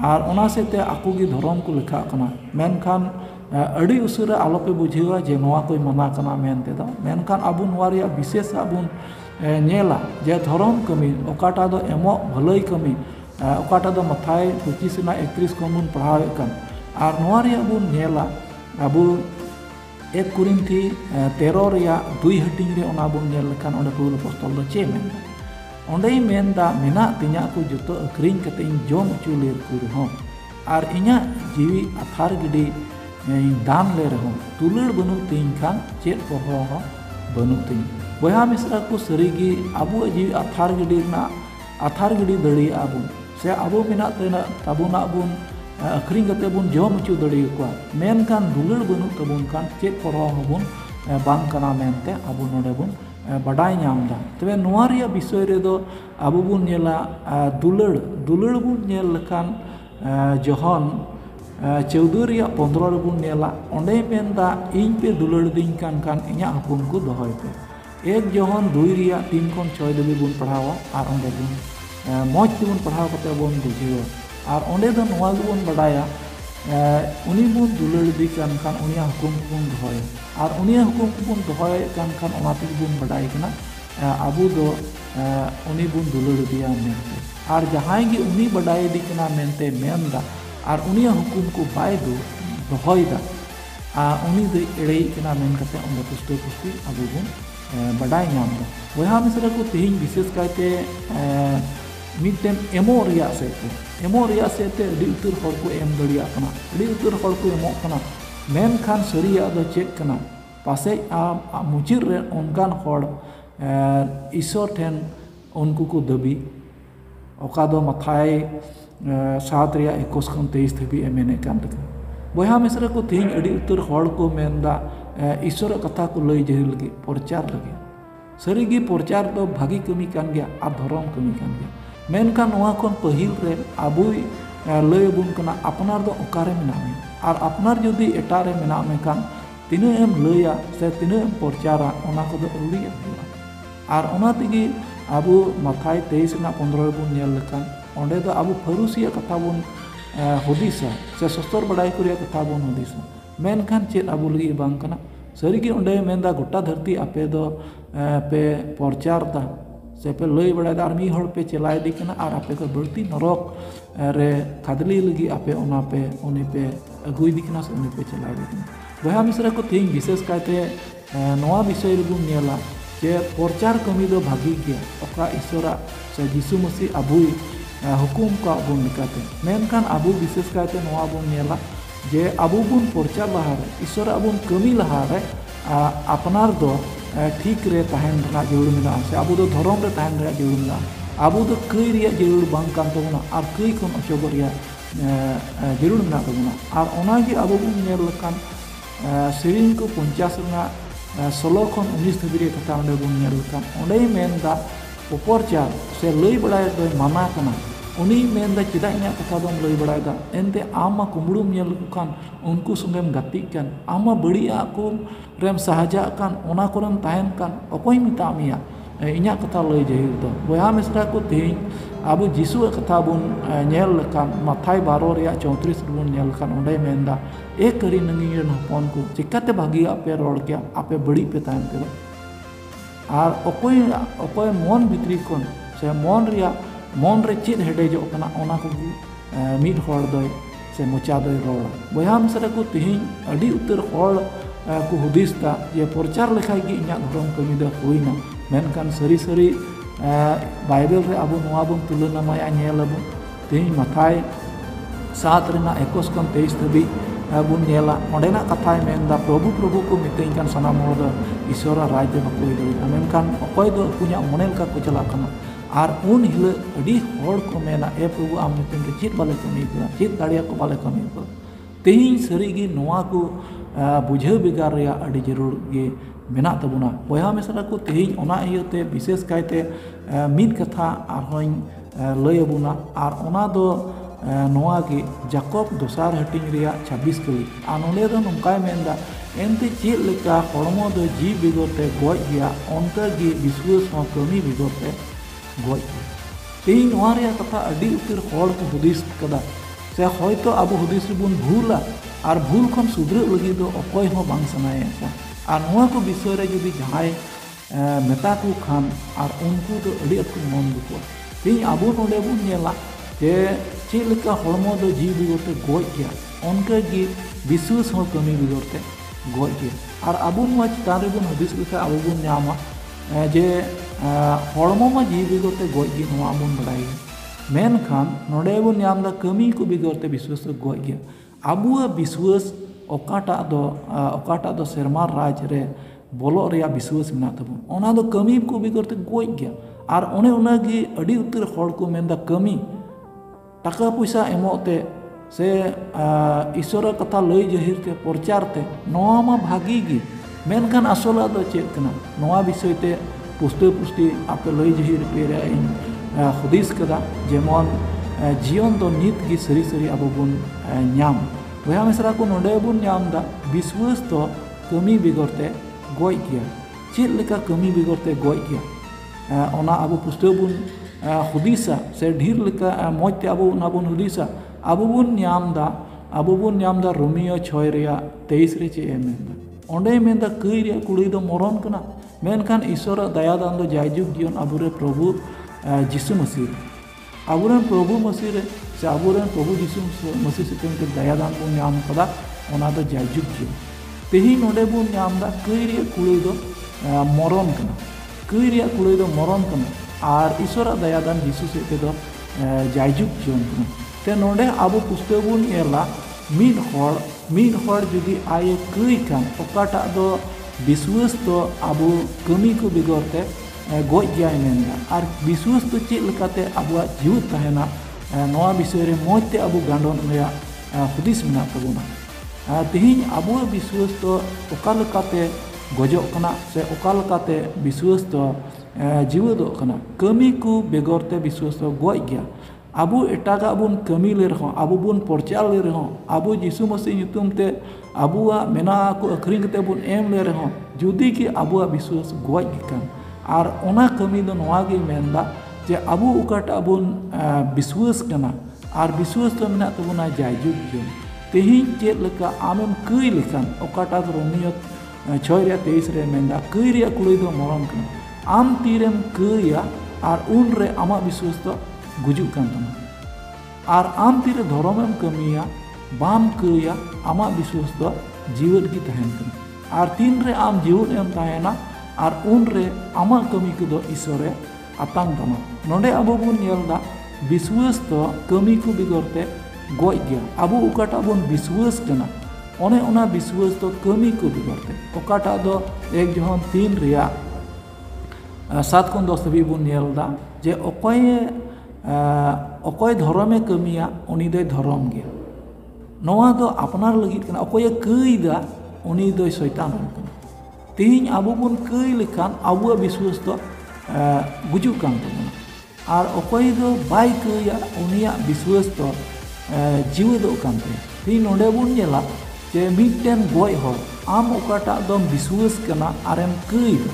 ᱟᱨ ᱚᱱᱟ ᱦᱚᱛᱮᱜ ᱛᱮ ᱟᱠᱚ ᱜᱮ ᱫᱷᱚᱨᱚᱢ ᱠᱚ ᱞᱮᱠᱷᱟᱜ ᱠᱟᱱᱟ ᱢᱮᱱᱠᱷᱟᱱ ᱟᱹᱰᱤ ᱩᱥᱟᱹᱨᱟ ᱟᱞᱚ ᱯᱮ ᱵᱩᱡᱷᱟᱹᱣᱟ ᱡᱮ ᱱᱚᱣᱟ ᱠᱚ ᱢᱟᱱᱟ ᱠᱟᱱᱟ ᱢᱮᱱᱛᱮ ᱫᱚ ᱢᱮᱱᱠᱷᱟᱱ ᱟᱵᱚ ᱱᱚᱣᱟ ᱨᱮᱭᱟᱜ ᱵᱤᱥᱮᱥ ᱟᱜ ᱵᱚᱱ ᱧᱮᱞᱟ ᱡᱮ ᱫᱷᱚᱨᱚᱢ ᱠᱟᱹᱢᱤ ᱚᱠᱟᱴᱟᱜ ᱫᱚ ᱮᱢᱚᱜ ᱵᱷᱟᱹᱞᱟᱹᱭ ᱠᱟᱹᱢᱤ ᱚᱠᱟᱴᱟᱜ ᱫᱚ ᱢᱟᱛᱷᱟᱭ ᱯᱚᱸᱪᱤᱥ ᱨᱮᱱᱟᱜ ᱮᱠᱛᱨᱤᱥ ᱠᱷᱚᱱ ᱵᱚᱱ ᱯᱟᱲᱦᱟᱣᱮᱫ ᱠᱟᱱ ᱟᱨ ᱱᱚᱣᱟ ᱨᱮᱭᱟᱜ ᱵᱚᱱ ᱧᱮᱞᱟ ᱟᱵᱚ ᱮᱠ ᱠᱩᱨᱤᱱᱛᱷᱤ ᱛᱮᱨᱚ ᱨᱮᱭᱟᱜ ᱫᱩᱭ ᱦᱟᱹᱴᱤᱧ ᱨᱮ ᱚᱱᱟ ᱵᱚᱱ ᱧᱮᱞ ᱞᱮᱠᱷᱟᱱ ᱚᱸᱰᱮ ᱯᱩᱨᱩᱞ ᱯᱚᱥᱛᱚᱞ ᱫᱚ ᱪᱮᱫ ᱢᱮᱱᱫᱟ ᱚᱸᱰᱮᱭ ᱢᱮᱱᱫᱟ ᱢᱮᱱᱟᱜ ᱛᱤᱧᱟᱹᱜ ᱠᱚ ᱡᱚᱛᱚ ᱟᱹᱠᱷᱨᱤᱧ ᱠᱟᱛᱮ ᱤᱧ ᱡᱚᱢ ᱦᱚᱪᱚ ᱞᱮ ᱠᱚ ᱨᱮᱦᱚᱸ ᱟᱨ ᱤᱧᱟᱹᱜ ᱡᱤᱣᱤ ᱟᱛᱷᱟᱨ ᱜᱤᱰᱤ ᱤᱧ ᱫᱟᱱ ᱞᱮ ᱨᱮᱦᱚᱸ ᱫᱩᱞᱟᱹᱲ ᱵᱟᱹᱱᱩᱜ ᱛᱤᱧ ᱠᱷᱟᱱ ᱪᱮᱫ ᱯᱚᱨᱦᱚ ᱦᱚᱸ ᱵᱟᱹᱱᱩᱜ ᱛᱤᱧ ᱵᱚᱭᱦᱟ ᱢᱤᱥᱨᱟ ᱠᱚ ᱥᱟᱹᱨᱤᱜᱮ ᱟᱵᱚᱣᱟᱜ ᱡᱤᱣᱤ ᱟᱛᱷᱟᱨ ᱜᱤᱰᱤ ᱨᱮᱱᱟᱜ ᱟᱛᱷᱟᱨ ᱜᱤᱰᱤ ᱫᱟᱲᱮᱭᱟᱜᱼᱟ ᱵᱚᱱ ᱥᱮ ᱟᱵᱚ ᱢᱮᱱᱟᱜ ᱛᱮᱱᱟᱜ ᱛᱟᱵᱚᱱᱟᱜ ᱵᱚᱱ ᱟᱹᱠᱷᱨᱤᱧ ᱠᱟᱛᱮ ᱵᱚᱱ ᱡᱚᱢ ᱦᱚᱪᱚ ᱫᱟᱲᱮᱭᱟᱠᱚᱣᱟ ᱢᱮᱱᱠᱷᱟᱱ ᱫᱩᱞᱟᱹᱲ ᱵᱟᱹᱱᱩᱜ ᱛᱟᱵᱚᱱ ᱠᱷᱟᱱ ᱪᱮᱫ ᱠᱚᱨᱟᱣ ᱦᱚᱸᱵᱚᱱ ᱵᱟᱝ ᱠᱟᱱᱟ ᱢᱮᱱᱛᱮ ᱟᱵᱚ ᱱᱚᱰᱮ ᱵᱚᱱ ᱵᱟᱰᱟᱭ ᱧᱟᱢ ᱮᱫᱟ ᱛᱚᱵᱮ ᱱᱚᱣᱟ ᱨᱮᱭᱟᱜ ᱵᱤᱥᱚᱭ ᱨᱮᱫᱚ ᱟᱵᱚ ᱵᱚᱱ ᱧᱮᱞᱟ ᱫᱩᱞᱟᱹᱲ ᱫᱩᱞᱟᱹᱲ ᱵᱚᱱ ᱧᱮᱞ ᱞᱮᱠᱷᱟᱱ ᱡᱚᱦᱚᱱ ᱪᱳᱣᱫᱚ ᱨᱮᱭᱟᱜ ᱯᱚᱸᱫᱽᱨᱚ ᱨᱮᱵᱚᱱ ᱧᱮᱞᱟ ᱚᱸᱰᱮᱭ ᱢᱮᱱ ᱮᱫᱟ ᱤᱧ ᱯᱮ ᱫᱩᱞᱟᱹᱲ ᱤᱫᱤᱧ ᱠᱟᱱ ᱠᱷᱟᱱ ᱤᱧᱟᱹᱜ ᱦᱚᱯᱚᱱ ᱠᱚ ᱫᱚᱦᱚᱭ ᱯᱮ ᱮᱠ ᱡᱚᱦᱚᱱ ᱫᱩᱭ ᱨᱮᱭᱟᱜ ᱛᱤᱱ ᱠᱷᱚᱱ ᱪᱷᱚᱭ ᱫᱷᱟᱹᱵᱤᱡ ᱵᱚᱱ ᱯᱟᱲᱦᱟᱣᱟ ᱟᱨ ᱚᱸᱰᱮ ᱵᱚᱱ ᱢᱚᱡᱽ ᱛᱮᱵᱚᱱ ᱯᱟᱲᱦᱟᱣ ᱠᱟᱛᱮ ᱵᱚᱱ ᱵᱩᱡᱷᱟᱹᱣᱟ ᱟᱨ ᱚᱸᱰᱮ ᱫᱚ ᱱᱚᱣᱟ ᱜᱮᱵᱚᱱ ᱵᱟᱰᱟᱭᱟ ᱩᱱᱤ ᱵᱚᱱ ᱫᱩᱞᱟᱹᱲ ᱤᱫᱤ ᱠᱟᱱ ᱠᱷᱟᱱ ᱩᱱᱤᱭᱟᱜ ᱦᱩᱠᱩᱢ ᱠᱚᱵᱚᱱ ᱫᱚᱦᱚᱭᱟ ᱟᱨ ᱩᱱᱤᱭᱟᱜ ᱦᱩᱠᱩᱢ ᱠᱚᱵᱚᱱ ᱫᱚᱦᱚᱭᱮᱫ ᱠᱟᱱ ᱠᱷᱟᱱ ᱚᱱᱟ ᱛᱮᱜᱮ ᱵᱚᱱ ᱵᱟᱰᱟᱭ ᱠᱟᱱᱟ ᱟᱵᱚ ᱫᱚ ᱩᱱᱤ ᱵᱚᱱ ᱫᱩᱞᱟᱹᱲ ᱤᱫᱤᱭᱟ ᱢᱮᱱᱛᱮ ᱟᱨ ᱡᱟᱦᱟᱸᱭ ᱜᱮ ᱩᱱᱤ ᱵᱟᱰᱟᱭ ᱤᱫᱤ ᱠᱟᱱᱟ ᱢᱮᱱᱛᱮ ᱢᱮᱱᱫᱟ ᱟᱨ ᱩᱱᱤᱭᱟᱜ ᱦᱩᱠᱩᱢ ᱠᱚ ᱵᱟᱭ ᱫᱚᱦᱚᱭᱮᱫᱟ ᱟᱨ ᱩᱱᱤ ᱫᱚᱭ ᱮᱲᱮᱭᱮᱫ ᱠᱟᱱᱟ ᱢᱮᱱ ᱠᱟᱛᱮ ᱚᱸᱰᱮ ᱯᱩᱥᱴᱟᱹᱣ ᱯᱩᱥᱴᱤ ᱟᱵᱚ ᱵᱚᱱ ᱵᱟᱰᱟᱭ ᱧᱟᱢ ᱮᱫᱟ ᱵᱚᱭᱦᱟ ᱢᱤᱥᱨᱟ ᱠᱚ ᱛᱮᱦᱮᱧ ᱵᱤᱥᱮᱥ ᱠᱟᱭᱛᱮ ᱢᱤᱫᱴᱮᱱ ᱮᱢᱚᱜ ᱨᱮᱭᱟᱜ ᱥᱮᱫ ᱛᱮ ᱮᱢᱚᱜ ᱨᱮᱭᱟᱜ ᱥᱮᱫ ᱛᱮ ᱟᱹᱰᱤ ᱩᱛᱟᱹᱨ ᱦᱚᱲ ᱠᱚ ᱮᱢ ᱫᱟᱲᱮᱭᱟᱜ ᱠᱟᱱᱟ ᱟᱹᱰᱤ ᱩᱛᱟᱹᱨ ᱦᱚᱲ ᱠᱚ ᱮᱢᱚᱜ ᱠᱟᱱᱟ ᱢᱮᱱᱠᱷᱟᱱ ᱥᱟᱹᱨᱤᱭᱟᱜ ᱫᱚ ᱪᱮᱫ ᱠᱟᱱᱟ ᱯᱟᱥᱮᱡ ᱟᱢ ᱢᱩᱪᱟᱹᱫ ᱨᱮ ᱚᱱᱠᱟᱱ ᱦᱚᱲ ᱤᱥᱥᱚᱨ ᱴᱷᱮᱱ ᱩᱱᱠᱩ ᱠᱚ ᱫᱟᱹᱵᱤ ᱚᱠᱟ ᱫᱚ ᱢᱟᱛᱷᱟᱭ ᱥᱟᱛ ᱨᱮᱭᱟᱜ ᱮᱠᱩᱥ ᱠᱷᱚᱱ ᱛᱮᱭᱤᱥ ᱫᱷᱟᱹᱵᱤᱡ ᱮ ᱢᱮᱱᱮᱫ ᱠᱟᱱ ᱛᱟᱦᱮᱸ ᱠᱟᱱᱟ ᱵᱚᱭᱦᱟ ᱢᱤᱥᱨᱟ ᱠᱚ ᱛᱮᱦᱤᱧ ᱟᱹᱰᱤ ᱩᱛᱟᱹᱨ ᱦᱚᱲ ᱠᱚ ᱢᱮᱱᱫᱟ ᱤᱥᱥᱚᱨᱟᱜ ᱠᱟᱛᱷᱟ ᱠᱚ ᱞᱟᱹᱭ ᱡᱟᱹᱦᱤᱨ ᱞᱟᱹᱜᱤᱫ ᱯᱨᱚᱪᱟᱨ ᱞᱟᱹᱜᱤᱫ ᱥᱟᱹᱨᱤᱜᱮ ᱯᱨᱚᱪᱟᱨ ᱫᱚ ᱵᱷᱟᱹᱜᱤ ᱠᱟᱹᱢᱤ ᱠᱟᱱ ᱜᱮᱭᱟ ᱟᱨ ᱫᱷᱚᱨᱚᱢ ᱠᱟᱹᱢᱤ ᱠᱟᱱ ᱜᱮᱭᱟ ᱢᱮᱱᱠᱷᱟᱱ ᱱᱚᱣᱟ ᱠᱷᱚᱱ ᱯᱟᱹᱦᱤᱞ ᱨᱮ ᱟᱵᱚᱭ ᱞᱟᱹᱭ ᱟᱵᱚᱱ ᱠᱟᱱᱟ ᱟᱯᱱᱟᱨ ᱫᱚ ᱚᱠᱟᱨᱮ ᱢᱮᱱᱟᱜ ᱢᱮᱭᱟ ᱟᱨ ᱟᱯᱱᱟᱨ ᱡᱩᱫᱤ ᱮᱴᱟᱜ ᱨᱮ ᱢᱮᱱᱟᱜ ᱢᱮᱠᱷᱟᱱ ᱛᱤᱱᱟᱹᱜ ᱮᱢ ᱞᱟᱹᱭᱟ ᱥᱮ ᱛᱤᱱᱟᱹᱜ ᱮᱢ ᱯᱨᱚᱪᱟᱨᱟ ᱚᱱᱟ ᱠᱚᱫᱚ ᱟᱹᱣᱲᱤ ᱜᱮ ᱦᱩᱭᱩᱜᱼᱟ ᱟᱨ ᱚᱱᱟ ᱛᱮᱜᱮ ᱟᱵᱚ ᱢᱟᱛᱷᱟᱭ ᱛᱮᱭᱤᱥ ᱨᱮᱱᱟᱜ ᱯᱚᱱᱫᱽᱨᱚ ᱨᱮᱵᱚᱱ ᱧᱮᱞ ᱞᱮᱠᱷᱟᱱ ᱚᱸᱰᱮ ᱫᱚ ᱟᱵᱚ ᱯᱷᱟᱹᱨᱩᱥᱤᱭᱟᱜ ᱠᱟᱛᱷᱟ ᱵᱚᱱ ᱦᱩᱫᱤᱥᱟ ᱥᱮ ᱥᱚᱥᱛᱚᱨ ᱵᱟᱰᱟᱭ ᱠᱚ ᱨᱮᱭᱟᱜ ᱠᱟᱛᱷᱟ ᱵᱚᱱ ᱦᱩᱫᱤᱥᱟ ᱢᱮᱱᱠᱷᱟᱱ ᱪᱮᱫ ᱟᱵᱚ ᱞᱟᱹᱜᱤᱫ ᱵᱟᱝ ᱠᱟᱱᱟ ᱥᱟᱹᱨᱤᱜᱮ ᱚᱸᱰᱮ ᱢᱮᱱᱫᱟ ᱜᱚᱴᱟ ᱫᱷᱟᱹᱨᱛᱤ ᱟᱯᱮ ᱫᱚ ᱯᱮ ᱯᱨᱚᱪᱟᱨ ᱫᱟ ᱥᱮᱯᱮ ᱞᱟᱹᱭ ᱵᱟᱲᱟᱭᱫᱟ ᱟᱨ ᱢᱤᱫ ᱦᱚᱲ ᱯᱮ ᱪᱮᱞᱟ ᱮᱫᱮ ᱠᱟᱱᱟ ᱟᱨ ᱟᱯᱮ ᱫᱚ ᱵᱟᱹᱲᱛᱤ ᱱᱚᱨᱚᱠ ᱨᱮ ᱠᱷᱟᱫᱽᱞᱮ ᱞᱟᱹᱜᱤᱫ ᱟᱯᱮ ᱚᱱᱟ ᱯᱮ ᱩᱱᱤ ᱯᱮ ᱟᱹᱜᱩᱭᱮᱫᱮ ᱠᱟᱱᱟ ᱥᱮ ᱩᱱᱤ ᱯᱮ ᱪᱟᱞᱟᱣᱮᱫᱮ ᱠᱟᱱᱟ ᱵᱚᱭᱦᱟ ᱢᱤᱥᱨᱟ ᱠᱚ ᱛᱮᱦᱮᱧ ᱵᱤᱥᱮᱥ ᱠᱟᱭᱛᱮ ᱱᱚᱣᱟ ᱵᱤᱥᱚᱭ ᱨᱮ ᱵᱚᱱ ᱧᱮᱞᱟ ᱡᱮ ᱯᱨᱚᱪᱟᱨ ᱠᱟᱹᱢᱤ ᱫᱚ ᱵᱷᱟᱹᱜᱤ ᱜᱮᱭᱟ ᱚᱠᱟ ᱤᱥᱚᱨᱟᱜ ᱥᱮ ᱡᱤᱥᱩ ᱢᱟᱹᱥᱤ ᱟᱵᱚᱭ ᱦᱩᱠᱩᱢ ᱟᱠᱟᱫ ᱵᱚᱱ ᱞᱮᱠᱟᱛᱮ ᱢᱮᱱᱠᱷᱟᱱ ᱟᱵᱚ ᱵᱤᱥᱮᱥ ᱠᱟᱭᱛᱮ ᱱᱚᱣᱟ ᱵᱚᱱ ᱧᱮᱞᱟ ᱡᱮ ᱟᱵᱚ ᱵᱚᱱ ᱯᱨᱚᱪᱟᱨ ᱞᱟᱦᱟ ᱨᱮ ᱤᱥᱚᱨᱟᱜ ᱵᱚᱱ ᱠᱟᱹᱢᱤ ᱞᱟᱦᱟ ᱨᱮ ᱟᱯᱱᱟᱨ ᱫᱚ ᱴᱷᱤᱠ ᱨᱮ ᱛᱟᱦᱮᱱ ᱨᱮᱱᱟᱜ ᱡᱟᱹᱨᱩᱲ ᱢᱮᱱᱟᱜᱼᱟ ᱥᱮ ᱟᱵᱚ ᱫᱚ ᱫᱷᱚᱨᱚᱢ ᱨᱮ ᱛᱟᱦᱮᱱ ᱨᱮᱱᱟᱜ ᱡᱟᱹᱨᱩᱲ ᱢᱮᱱᱟᱜᱼᱟ ᱟᱵᱚ ᱫᱚ ᱠᱟᱹᱭ ᱨᱮᱭᱟᱜ ᱡᱟᱹᱨᱩᱲ ᱵᱟᱝ ᱠᱟᱱ ᱛᱟᱵᱚᱱᱟ ᱟᱨ ᱠᱟᱹᱭ ᱠᱷᱚᱱ ᱚᱪᱚᱜᱚᱜ ᱨᱮᱭᱟᱜ ᱡᱟᱹᱨᱩᱲ ᱢᱮᱱᱟᱜ ᱛᱟᱵᱚᱱᱟ ᱟᱨ ᱚᱱᱟ ᱜᱮ ᱟᱵᱚ ᱵᱚᱱ ᱧᱮᱞ ᱞᱮᱠᱷᱟᱱ ᱥᱮᱨᱮᱧ ᱠᱚ ᱯᱚᱧᱪᱟᱥ ᱨᱮᱱᱟᱜ ᱥᱳᱞᱳ ᱠᱷᱚᱱ ᱩᱱᱤᱥ ᱫᱷᱟᱹᱵᱤᱡ ᱨᱮᱭᱟᱜ ᱠᱟᱛᱷᱟ ᱚᱸᱰᱮ ᱵᱚᱱ ᱧᱮᱞ ᱞᱮᱠᱷᱟᱱ ᱚᱸᱰᱮᱭ ᱢᱮᱱᱫᱟ ᱚᱯᱚᱨᱪᱟᱨ ᱥᱮ ᱞᱟᱹᱭ ᱵᱟᱲᱟᱭ ᱫᱚᱭ ᱢᱟᱱᱟ ᱠᱟᱱᱟ ᱩᱱᱤᱭ ᱢᱮᱱᱫᱟ ᱪᱮᱫᱟᱜ ᱤᱧᱟᱹᱜ ᱠᱟᱛᱷᱟ ᱫᱚᱢ ᱞᱟᱹᱭ ᱵᱟᱲᱟᱭᱮᱫᱟ ᱮᱱᱛᱮ ᱟᱢ ᱢᱟ ᱠᱩᱢᱵᱽᱲᱩᱢ ᱧᱮᱞ ᱞᱮᱠᱚ ᱠᱷᱟᱱ ᱩᱱᱠᱩ ᱥᱚᱸᱜᱮᱢ ᱜᱟᱛᱮᱜ ᱠᱟᱱ ᱟᱢ ᱢᱟ ᱵᱟᱹᱲᱤᱡ ᱟᱜ ᱠᱚᱨᱮᱢ ᱥᱟᱦᱟᱡᱟᱜ ᱠᱟᱱ ᱚᱱᱟ ᱠᱚᱨᱮᱢ ᱛᱟᱦᱮᱱ ᱠᱟᱱ ᱚᱠᱚᱭ ᱢᱮᱛᱟᱜ ᱢᱮᱭᱟ ᱤᱧᱟᱹᱜ ᱠᱟᱛᱷᱟ ᱞᱟᱹᱭ ᱡᱮ ᱦᱩᱭᱩᱜ ᱫᱚ ᱵᱚᱭᱦᱟ ᱢᱤᱥᱨᱟ ᱠᱚ ᱛᱮᱦᱮᱧ ᱟᱵᱚ ᱡᱤᱥᱩᱣᱟᱜ ᱠᱟᱛᱷᱟ ᱵᱚᱱ ᱧᱮᱞ ᱞᱮᱠᱷᱟᱱ ᱢᱟᱛᱷᱟᱭ ᱵᱟᱨᱚ ᱨᱮᱭᱟᱜ ᱪᱳᱭᱛᱨᱤᱥ ᱨᱮᱵᱚᱱ ᱧᱮᱞ ᱞᱮᱠᱷᱟᱱ ᱚᱸᱰᱮᱭ ᱢᱮᱱ ᱮᱫᱟ ᱮ ᱠᱟᱹᱨᱤ ᱱᱟᱹᱢᱤ ᱨᱮᱱ ᱦᱚᱯᱚᱱ ᱠᱚ ᱪᱤᱠᱟᱹᱛᱮ ᱵᱷᱟᱹᱜᱤᱭᱟᱜ ᱯᱮ ᱨᱚᱲ ᱠᱮᱭᱟ ᱟᱯᱮ ᱵᱟᱹᱲᱤᱡ ᱯᱮ ᱛᱟᱦᱮᱱ ᱠᱟᱱᱟ ᱟᱨ ᱚᱠᱚᱭ ᱚᱠᱚᱭ ᱢᱚᱱ ᱵᱷᱤᱛᱨᱤ ᱠᱷᱚᱱ ᱥᱮ ᱢᱚᱱ ᱨᱮᱭᱟᱜ ᱢᱚᱱ ᱨᱮ ᱪᱮᱫ ᱦᱮᱰᱮᱡᱚᱜ ᱠᱟᱱᱟ ᱚᱱᱟ ᱠᱚᱜᱮ ᱢᱤᱫ ᱦᱚᱲ ᱫᱚᱭ ᱥᱮ ᱢᱚᱪᱟ ᱫᱚᱭ ᱨᱚᱲᱟ ᱵᱚᱭᱦᱟ ᱢᱤᱥᱨᱟ ᱠᱚ ᱛᱮᱦᱮᱧ ᱟᱹᱰᱤ ᱩᱛᱟᱹᱨ ᱦᱚᱲ ᱠᱚ ᱦᱩᱫᱤᱥ ᱮᱫᱟ ᱡᱮ ᱯᱨᱚᱪᱟᱨ ᱞᱮᱠᱷᱟᱱ ᱜᱮ ᱤᱧᱟᱹᱜ ᱫᱷᱚᱨᱚᱢ ᱠᱟᱹᱢᱤ ᱫᱚ ᱦᱩᱭᱱᱟ ᱢᱮᱱᱠᱷᱟᱱ ᱥᱟᱹᱨᱤ ᱥᱟᱹᱨᱤ ᱵᱟᱭᱵᱮᱞ ᱨᱮ ᱟᱵᱚ ᱱᱚᱣᱟ ᱵᱚᱱ ᱛᱩᱞᱟᱹᱱᱟᱢᱟᱭᱟ ᱧᱮᱞ ᱟᱵᱚᱱ ᱛᱮᱦᱮᱧ ᱢᱟᱛᱷᱟᱭ ᱥᱟᱛ ᱨᱮᱱᱟᱜ ᱮᱠᱩᱥ ᱠᱷᱚᱱ ᱛᱮᱭᱤᱥ ᱫᱷᱟᱹᱵᱤᱡ ᱵᱚᱱ ᱧᱮᱞᱟ ᱚᱸᱰᱮᱱᱟᱜ ᱠᱟᱛᱷᱟᱭ ᱢᱮᱱᱫᱟ ᱯᱨᱚᱵᱷᱩ ᱯᱨᱚᱵᱷᱩ ᱠᱚ ᱢᱤᱛᱟᱹᱧ ᱠᱟᱱ ᱥᱟᱱᱟᱢ ᱦᱚᱲ ᱫᱚ ᱤᱥᱥᱚᱨᱟᱜ ᱨᱟᱡᱽ ᱫᱚ ᱵᱟᱠᱚ ᱤᱫᱤᱭᱮᱫᱟ ᱢᱮᱱᱠᱷᱟᱱ ᱚᱠᱚᱭ ᱫᱚ ᱟᱠᱚᱧᱟᱜ ᱢᱚᱱᱮ ᱞᱮᱠᱟ ᱠᱚ ᱪᱟᱞᱟᱜ ᱠᱟᱱᱟ ᱟᱨ ᱩᱱ ᱦᱤᱞᱳᱜ ᱟᱹᱰᱤ ᱦᱚᱲ ᱠᱚ ᱢᱮᱱᱟ ᱮ ᱯᱨᱚᱵᱷᱩ ᱟᱢ ᱧᱩᱛᱩᱢ ᱛᱮ ᱪᱮᱫ ᱵᱟᱞᱮ ᱠᱟᱹᱢᱤ ᱠᱟᱫᱟ ᱪᱮᱫ ᱫᱟᱲᱮ ᱠᱚ ᱵᱟᱞᱮ ᱠᱟᱹᱢᱤ ᱠᱟᱫᱟ ᱛᱮᱦᱤᱧ ᱥᱟᱹᱨᱤ ᱜᱮ ᱱᱚᱣᱟ ᱠᱚ ᱵᱩᱡᱷᱟᱹᱣ ᱵᱷᱮᱜᱟᱨ ᱨᱮᱭᱟᱜ ᱟᱹᱰᱤ ᱡᱟᱹᱨᱩᱲ ᱜᱮ ᱢᱮᱱᱟᱜ ᱛᱟᱵᱚᱱᱟ ᱵᱚᱭᱦᱟ ᱢᱤᱥᱨᱟ ᱠᱚ ᱛᱮᱦᱤᱧ ᱚᱱᱟ ᱤᱭᱟᱹᱛᱮ ᱵᱤᱥᱮᱥ ᱠᱟᱭᱛᱮ ᱢᱤᱫ ᱠᱟᱛᱷᱟ ᱟᱨ ᱦᱚᱸᱧ ᱞᱟᱹᱭ ᱟᱵᱚᱱᱟ ᱟᱨ ᱚᱱᱟ ᱫᱚ ᱱᱚᱣᱟ ᱜᱮ ᱡᱟᱠᱚᱵ ᱫᱚᱥᱟᱨ ᱦᱟᱹᱴᱤᱧ ᱨᱮᱭᱟᱜ ᱪᱷᱟᱵᱵᱤᱥ ᱛᱟᱹᱨᱤᱠᱷ ᱟᱱᱚᱞᱮ ᱫᱚ ᱱᱚᱝᱠᱟᱭ ᱢᱮᱱᱫᱟ, ᱮᱱᱛᱮ ᱪᱮᱫ ᱞᱮᱠᱟ ᱦᱚᱲᱢᱚ ᱫᱚ ᱡᱤᱣᱤ ᱵᱮᱜᱚᱨ ᱛᱮ ᱜᱚᱡ ᱜᱮᱭᱟ ᱚᱱᱠᱟ ᱜᱮ ᱵᱤᱥᱣᱟᱹᱥ ᱦᱚᱸ ᱠᱟᱹᱢᱤ ᱵᱮᱜᱚᱨ ᱛᱮ ᱜᱚᱡ ᱜᱮᱭᱟ᱾ ᱛᱮᱦᱮᱧ ᱱᱚᱶᱟ ᱨᱮᱭᱟᱜ ᱠᱟᱛᱷᱟ ᱟᱹᱰᱤ ᱩᱛᱟᱹᱨ ᱦᱚᱲ ᱠᱚ ᱦᱩᱫᱤᱥ ᱟᱠᱟᱫᱟ ᱥᱮ ᱦᱚᱭᱛᱚ ᱟᱵᱚ ᱦᱩᱫᱤᱥ ᱨᱮᱵᱚᱱ ᱵᱷᱩᱞᱟ ᱟᱨ ᱵᱷᱩᱞ ᱠᱷᱚᱱ ᱥᱩᱫᱷᱨᱟᱹᱜ ᱞᱟᱹᱜᱤᱫ ᱫᱚ ᱚᱠᱚᱭ ᱦᱚᱸ ᱵᱟᱝ ᱥᱟᱱᱟᱭᱮᱫ ᱠᱚᱣᱟ ᱟᱨ ᱱᱚᱶᱟ ᱠᱚ ᱵᱤᱥᱚᱭ ᱨᱮ ᱡᱩᱫᱤ ᱡᱟᱦᱟᱸᱭ ᱢᱮᱛᱟ ᱠᱚ ᱠᱷᱟᱱ ᱟᱨ ᱩᱱᱠᱩ ᱫᱚ ᱟᱹᱰᱤ ᱟᱸᱴ ᱠᱚ ᱢᱚᱱ ᱫᱩᱠᱩᱜᱼᱟ ᱛᱮᱦᱮᱧ ᱟᱵᱚ ᱱᱚᱰᱮ ᱵᱚᱱ ᱧᱮᱞᱟ ᱡᱮ ᱪᱮᱫ ᱞᱮᱠᱟ ᱦᱚᱲᱢᱚ ᱫᱚ ᱡᱤᱣᱤ ᱵᱮᱜᱚᱨ ᱛᱮ ᱜᱚᱡ ᱜᱮᱭᱟ ᱚᱱᱠᱟ ᱜᱮ ᱵᱤᱥᱣᱟᱹᱥ ᱦᱚᱸ ᱠᱟᱹᱢᱤ ᱵᱮᱜᱚᱨ ᱛᱮ ᱜᱚᱡ ᱜᱮᱭᱟ ᱟᱨ ᱟᱵᱚ ᱱᱚᱣᱟ ᱪᱮᱛᱟᱱ ᱨᱮᱵᱚᱱ ᱦᱩᱫᱤᱥ ᱞᱮᱠᱷᱟᱱ ᱟᱵᱚ ᱵᱚᱱ ᱧᱟᱢᱟ ᱡᱮ ᱦᱚᱲᱢᱚ ᱢᱟ ᱡᱤᱣᱤ ᱵᱮᱜᱚᱨ ᱛᱮ ᱜᱚᱡ ᱜᱮ ᱱᱚᱣᱟ ᱵᱚᱱ ᱵᱟᱰᱟᱭ ᱜᱮᱭᱟ ᱢᱮᱱᱠᱷᱟᱱ ᱱᱚᱰᱮ ᱵᱚᱱ ᱧᱟᱢ ᱮᱫᱟ ᱠᱟᱹᱢᱤ ᱠᱚ ᱵᱮᱜᱚᱨ ᱛᱮ ᱵᱤᱥᱣᱟᱹᱥ ᱫᱚ ᱜᱚᱡ ᱜᱮᱭᱟ ᱟᱵᱚᱣᱟᱜ ᱵᱤᱥᱣᱟᱹᱥ ᱚᱠᱟᱴᱟᱜ ᱫᱚ ᱚᱠᱟᱴᱟᱜ ᱫᱚ ᱥᱮᱨᱢᱟ ᱨᱟᱡᱽ ᱨᱮ ᱵᱚᱞᱚᱜ ᱨᱮᱭᱟᱜ ᱵᱤᱥᱣᱟᱹᱥ ᱢᱮᱱᱟᱜ ᱛᱟᱵᱚᱱᱟ ᱚᱱᱟ ᱫᱚ ᱠᱟᱹᱢᱤ ᱠᱚ ᱵᱮᱜᱚᱨ ᱛᱮ ᱜᱚᱡ ᱜᱮᱭᱟ ᱟᱨ ᱚᱱᱮ ᱚᱱᱟ ᱜᱮ ᱟᱹᱰᱤ ᱩᱛᱟᱹᱨ ᱦᱚᱲ ᱠᱚ ᱢᱮᱱᱫᱟ ᱠᱟᱹᱢᱤ ᱴᱟᱠᱟ ᱯᱚᱭᱥᱟ ᱮᱢᱚᱜ ᱛᱮ ᱥᱮ ᱤᱥᱥᱚᱨᱟᱜ ᱠᱟᱛᱷᱟ ᱞᱟᱹᱭ ᱡᱟᱹᱦᱤᱨ ᱛᱮ ᱯᱨᱚᱪᱟᱨ ᱛᱮ ᱱᱚᱣᱟ ᱢᱟ ᱵᱷᱟᱹᱜᱤ ᱜᱮ ᱢᱮᱱᱠᱷᱟᱱ ᱟᱥᱚᱞᱟᱜ ᱫᱚ ᱪᱮᱫ ᱠᱟᱱᱟ ᱱᱚᱣᱟ ᱵᱤᱥᱚᱭ ᱛᱮ ᱯᱩᱥᱴᱟᱹ ᱯᱩᱥᱴᱤ ᱟᱯᱮ ᱞᱟᱹᱭ ᱡᱩᱦᱤᱨ ᱯᱮ ᱨᱮᱭᱟᱜ ᱤᱧ ᱦᱩᱫᱤᱥ ᱠᱟᱫᱟ ᱡᱮᱢᱚᱱ ᱡᱤᱭᱚᱱ ᱫᱚ ᱱᱤᱛ ᱜᱮ ᱥᱟᱹᱨᱤ ᱥᱟᱹᱨᱤ ᱟᱵᱚ ᱵᱚᱱ ᱧᱟᱢ ᱵᱚᱭᱦᱟ ᱢᱤᱥᱨᱟ ᱠᱚ ᱱᱚᱰᱮ ᱵᱚᱱ ᱧᱟᱢ ᱫᱟ ᱵᱤᱥᱣᱟᱹᱥ ᱫᱚ ᱠᱟᱹᱢᱤ ᱵᱮᱜᱚᱨ ᱛᱮ ᱜᱚᱡ ᱜᱮᱭᱟ ᱪᱮᱫ ᱞᱮᱠᱟ ᱠᱟᱹᱢᱤ ᱵᱮᱜᱚᱨ ᱛᱮ ᱜᱚᱡ ᱜᱮᱭᱟ ᱚᱱᱟ ᱟᱵᱚ ᱯᱩᱥᱴᱟᱹᱣ ᱵᱚᱱ ᱦᱩᱫᱤᱥᱟ ᱥᱮ ᱰᱷᱮᱨ ᱞᱮᱠᱟ ᱢᱚᱡᱽ ᱛᱮ ᱟᱵᱚ ᱚᱱᱟ ᱵᱚᱱ ᱦᱩᱫᱤᱥᱟ ᱟᱵᱚ ᱵᱚᱱ ᱧᱟᱢ ᱫᱟ ᱟᱵᱚ ᱵᱚᱱ ᱧᱟᱢ ᱫᱟ ᱨᱳᱢᱤᱭᱳ ᱪᱷᱚᱭ ᱨᱮᱭᱟᱜ ᱛᱮᱭᱤᱥ ᱨᱮ ᱪᱮᱫ ᱮ ᱢᱮᱱᱫᱟ ᱚᱸᱰᱮᱭ ᱢᱮᱱᱫᱟ ᱠᱟᱹᱭ ᱨᱮᱭᱟᱜ ᱠᱩᱲᱟᱹᱭ ᱫᱚ ᱢᱚᱨᱚᱱ ᱠᱟᱱᱟ ᱢᱮᱱᱠᱷᱟᱱ ᱤᱥᱚᱨᱟᱜ ᱫᱟᱭᱟ ᱫᱟᱱ ᱫᱚ ᱡᱟᱭᱡᱩᱜᱽ ᱡᱤᱭᱚᱱ ᱟᱵᱚᱨᱮ ᱯᱨᱚᱵᱷᱩ ᱡᱤᱥᱩ ᱢᱟᱹᱥᱤ ᱨᱮ ᱟᱵᱚᱨᱮᱱ ᱯᱨᱚᱵᱷᱩ ᱢᱟᱹᱥᱤ ᱨᱮ ᱥᱮ ᱟᱵᱚᱨᱮᱱ ᱯᱨᱚᱵᱷᱩ ᱡᱤᱥᱩ ᱢᱟᱹᱥᱤ ᱥᱮᱫ ᱢᱤᱫᱴᱮᱱ ᱫᱟᱭᱟ ᱫᱟᱱ ᱵᱚᱱ ᱧᱟᱢ ᱠᱟᱫᱟ ᱚᱱᱟ ᱫᱚ ᱡᱟᱭᱡᱩᱜᱽ ᱡᱤᱭᱚᱱ ᱛᱮᱦᱮᱧ ᱱᱚᱰᱮ ᱵᱚᱱ ᱧᱟᱢ ᱮᱫᱟ ᱠᱟᱹᱭ ᱨᱮᱭᱟᱜ ᱠᱩᱲᱟᱹᱭ ᱫᱚ ᱢᱚᱨᱚᱱ ᱠᱟᱱᱟ ᱠᱟᱹᱭ ᱨᱮᱭᱟᱜ ᱠᱩᱲᱟᱹᱭ ᱫᱚ ᱢᱚᱨᱚᱱ ᱠᱟᱱᱟ ᱟᱨ ᱤᱥᱚᱨᱟᱜ ᱫᱟᱭᱟ ᱫᱟᱱ ᱡᱤᱥᱩ ᱥᱮᱫ ᱛᱮᱫᱚ ᱡᱟᱭᱡᱩᱜᱽ ᱡᱤᱭᱚᱱ ᱠᱟᱱᱟ ᱛᱮ ᱱᱚᱰᱮ ᱟᱵᱚ ᱯᱩᱥᱴᱟᱹᱣ ᱵᱚᱱ ᱧᱮᱞᱟ ᱢᱤᱫ ᱦᱚᱲ ᱢᱤᱫ ᱦᱚᱲ ᱡᱩᱫᱤ ᱟᱡ ᱮ ᱠᱟᱹᱭ ᱠᱷᱟᱱ ᱚᱠᱟᱴᱟᱜ ᱫᱚ ᱵᱤᱥᱣᱟᱹᱥ ᱫᱚ ᱟᱵᱚ ᱠᱟᱹᱢᱤ ᱠᱚ ᱵᱮᱜᱚᱨ ᱛᱮ ᱜᱚᱡ ᱜᱮᱭᱟᱭ ᱢᱮᱱᱫᱟ ᱟᱨ ᱵᱤᱥᱣᱟᱹᱥ ᱫᱚ ᱪᱮᱫ ᱞᱮᱠᱟᱛᱮ ᱟᱵᱚᱣᱟᱜ ᱡᱤᱣᱮᱫ ᱛᱟᱦᱮᱱᱟ ᱱᱚᱣᱟ ᱵᱤᱥᱚᱭ ᱨᱮ ᱢᱚᱡᱽ ᱛᱮ ᱟᱵᱚ ᱜᱟᱸᱰᱚᱱ ᱨᱮᱭᱟᱜ ᱦᱩᱫᱤᱥ ᱢᱮᱱᱟᱜ ᱛᱟᱵᱚᱱᱟ ᱛᱮᱦᱮᱧ ᱟᱵᱚᱣᱟᱜ ᱵᱤᱥᱣᱟᱹᱥ ᱫᱚ ᱚᱠᱟ ᱞᱮᱠᱟᱛᱮ ᱜᱚᱡᱚᱜ ᱠᱟᱱᱟ ᱥᱮ ᱚᱠᱟ ᱞᱮᱠᱟᱛᱮ ᱵᱤᱥᱣᱟᱹᱥ ᱫᱚ ᱡᱤᱣᱮᱫᱚᱜ ᱠᱟᱱᱟ ᱠᱟᱹᱢᱤ ᱠᱚ ᱵᱮᱜᱚᱨ ᱛᱮ ᱵᱤᱥᱣᱟᱹᱥ ᱫᱚ ᱜᱚᱡ ᱜᱮᱭᱟ ᱟᱵᱚ ᱮᱴᱟᱜᱟᱜ ᱵᱚᱱ ᱠᱟᱹᱢᱤ ᱞᱮ ᱨᱮᱦᱚᱸ ᱟᱵᱚ ᱵᱚᱱ ᱯᱨᱚᱪᱟᱨ ᱞᱮ ᱨᱮᱦᱚᱸ ᱟᱵᱚ ᱡᱤᱥᱩ ᱢᱟᱹᱥᱤ ᱧᱩᱛᱩᱢ ᱛᱮ ᱟᱵᱚᱣᱟᱜ ᱢᱮᱱᱟᱜᱼᱟ ᱠᱚ ᱟᱹᱠᱷᱨᱤᱧ ᱠᱟᱛᱮ ᱵᱚᱱ ᱮᱢ ᱞᱮ ᱨᱮᱦᱚᱸ ᱡᱩᱫᱤ ᱜᱮ ᱟᱵᱚᱣᱟᱜ ᱵᱤᱥᱣᱟᱹᱥ ᱜᱚᱡ ᱜᱮᱠᱷᱟᱱ ᱟᱨ ᱚᱱᱟ ᱠᱟᱹᱢᱤ ᱫᱚ ᱱᱚᱣᱟ ᱜᱮᱧ ᱢᱮᱱᱫᱟ ᱡᱮ ᱟᱵᱚ ᱚᱠᱟᱴᱟᱜ ᱵᱚᱱ ᱵᱤᱥᱣᱟᱹᱥ ᱠᱟᱱᱟ ᱟᱨ ᱵᱤᱥᱣᱟᱹᱥ ᱫᱚ ᱢᱮᱱᱟᱜ ᱛᱟᱵᱚᱱᱟ ᱡᱟᱭ ᱡᱩᱜᱽ ᱜᱮ ᱛᱮᱦᱮᱧ ᱪᱮᱫ ᱞᱮᱠᱟ ᱟᱢᱮᱢ ᱠᱟᱹᱭ ᱞᱮᱠᱷᱟᱱ ᱚᱠᱟᱴᱟᱜ ᱨᱚᱢᱤᱭᱚ ᱪᱷᱚᱭ ᱨᱮᱭᱟᱜ ᱛᱮᱭᱤᱥ ᱨᱮ ᱢᱮᱱᱫᱟ ᱠᱟᱹᱭ ᱨᱮᱭᱟᱜ ᱠᱩᱲᱟᱹᱭ ᱫᱚ ᱢᱚᱨᱚᱱ ᱠᱟᱱᱟ ᱟᱢ ᱛᱤᱨᱮᱢ ᱠᱟᱹᱭᱟ ᱟᱨ ᱩᱱᱨᱮ ᱟᱢᱟᱜ ᱵᱤᱥᱣᱟᱥ ᱫᱚ ᱜᱩᱡᱩᱜ ᱠᱟᱱ ᱛᱟᱢᱟ ᱟᱨ ᱟᱢ ᱛᱤᱨᱮ ᱫᱷᱚᱨᱚᱢᱮᱢ ᱠᱟᱹᱢᱤᱭᱟ ᱵᱟᱢ ᱠᱟᱹᱭᱟ ᱟᱢᱟᱜ ᱵᱤᱥᱣᱟᱥ ᱫᱚ ᱡᱤᱣᱮᱫ ᱜᱮ ᱛᱟᱦᱮᱱ ᱠᱟᱱᱟ ᱟᱨ ᱛᱤᱱᱨᱮ ᱟᱢ ᱡᱤᱣᱮᱫ ᱮᱢ ᱛᱟᱦᱮᱱᱟ ᱟᱨ ᱩᱱᱨᱮ ᱟᱢᱟᱜ ᱠᱟᱹᱢᱤ ᱠᱚᱫᱚ ᱤᱥᱥᱚᱨᱮ ᱟᱛᱟᱝ ᱠᱟᱱᱟ᱾ ᱱᱚᱸᱰᱮ ᱟᱵᱚ ᱵᱚᱱ ᱧᱮᱞ ᱫᱟ ᱵᱤᱥᱣᱟᱹᱥ ᱫᱚ ᱠᱟᱹᱢᱤ ᱠᱚ ᱵᱮᱜᱚᱨ ᱛᱮ ᱜᱚᱡ ᱜᱮᱭᱟ᱾ ᱟᱵᱚ ᱚᱠᱟᱴᱟᱜ ᱵᱚᱱ ᱵᱤᱥᱣᱟᱹᱥ ᱠᱟᱱᱟ ᱚᱱᱮ ᱚᱱᱟ ᱵᱤᱥᱣᱟᱹᱥ ᱫᱚ ᱠᱟᱹᱢᱤ ᱠᱚ ᱵᱮᱜᱚᱨ ᱛᱮ᱾ ᱚᱠᱟᱴᱟᱜ ᱫᱚ ᱮᱠ ᱡᱚᱦᱚᱱ ᱛᱤᱱ ᱨᱮᱭᱟᱜ ᱥᱟᱛ ᱠᱷᱚᱱ ᱫᱚᱥ ᱫᱷᱟᱹᱵᱤᱡ ᱵᱚᱱ ᱧᱮᱞ ᱫᱟ ᱡᱮ ᱚᱠᱚᱭᱮ ᱚᱠᱚᱭ ᱫᱷᱚᱨᱚᱢᱮ ᱠᱟᱹᱢᱤᱭᱟ ᱩᱱᱤ ᱫᱚᱭ ᱫᱷᱚᱨᱚᱢ ᱜᱮᱭᱟ᱾ ᱱᱚᱣᱟ ᱫᱚ ᱟᱯᱱᱟᱨ ᱞᱟᱹᱜᱤᱫ ᱠᱟᱱᱟ ᱚᱠᱚᱭᱮ ᱠᱟᱹᱭ ᱫᱟ ᱩᱱᱤ ᱫᱚᱭ ᱥᱚᱭᱛᱟᱱ ᱠᱟᱱᱟ᱾ ᱛᱮᱦᱮᱧ ᱟᱵᱚ ᱵᱚᱱ ᱠᱟᱹᱭ ᱞᱮᱠᱷᱟᱱ ᱟᱵᱚᱣᱟᱜ ᱵᱤᱥᱣᱟᱥ ᱫᱚ ᱜᱩᱡᱩᱜ ᱠᱟᱱ ᱛᱟᱵᱚᱱᱟ ᱟᱨ ᱚᱠᱚᱭ ᱫᱚ ᱵᱟᱭ ᱠᱟᱹᱭᱟ ᱩᱱᱤᱭᱟᱜ ᱵᱤᱥᱣᱟᱥ ᱫᱚ ᱡᱤᱣᱮᱫᱚᱜ ᱠᱟᱱ ᱛᱟᱭᱟ ᱛᱮᱦᱮᱧ ᱱᱚᱰᱮ ᱵᱚᱱ ᱧᱮᱞᱟ ᱡᱮ ᱢᱤᱫᱴᱮᱱ ᱜᱚᱡ ᱦᱚᱲ ᱟᱢ ᱚᱠᱟᱴᱟᱜ ᱫᱚᱢ ᱵᱤᱥᱣᱟᱥ ᱠᱟᱱᱟ ᱟᱨᱮᱢ ᱠᱟᱹᱭᱫᱟ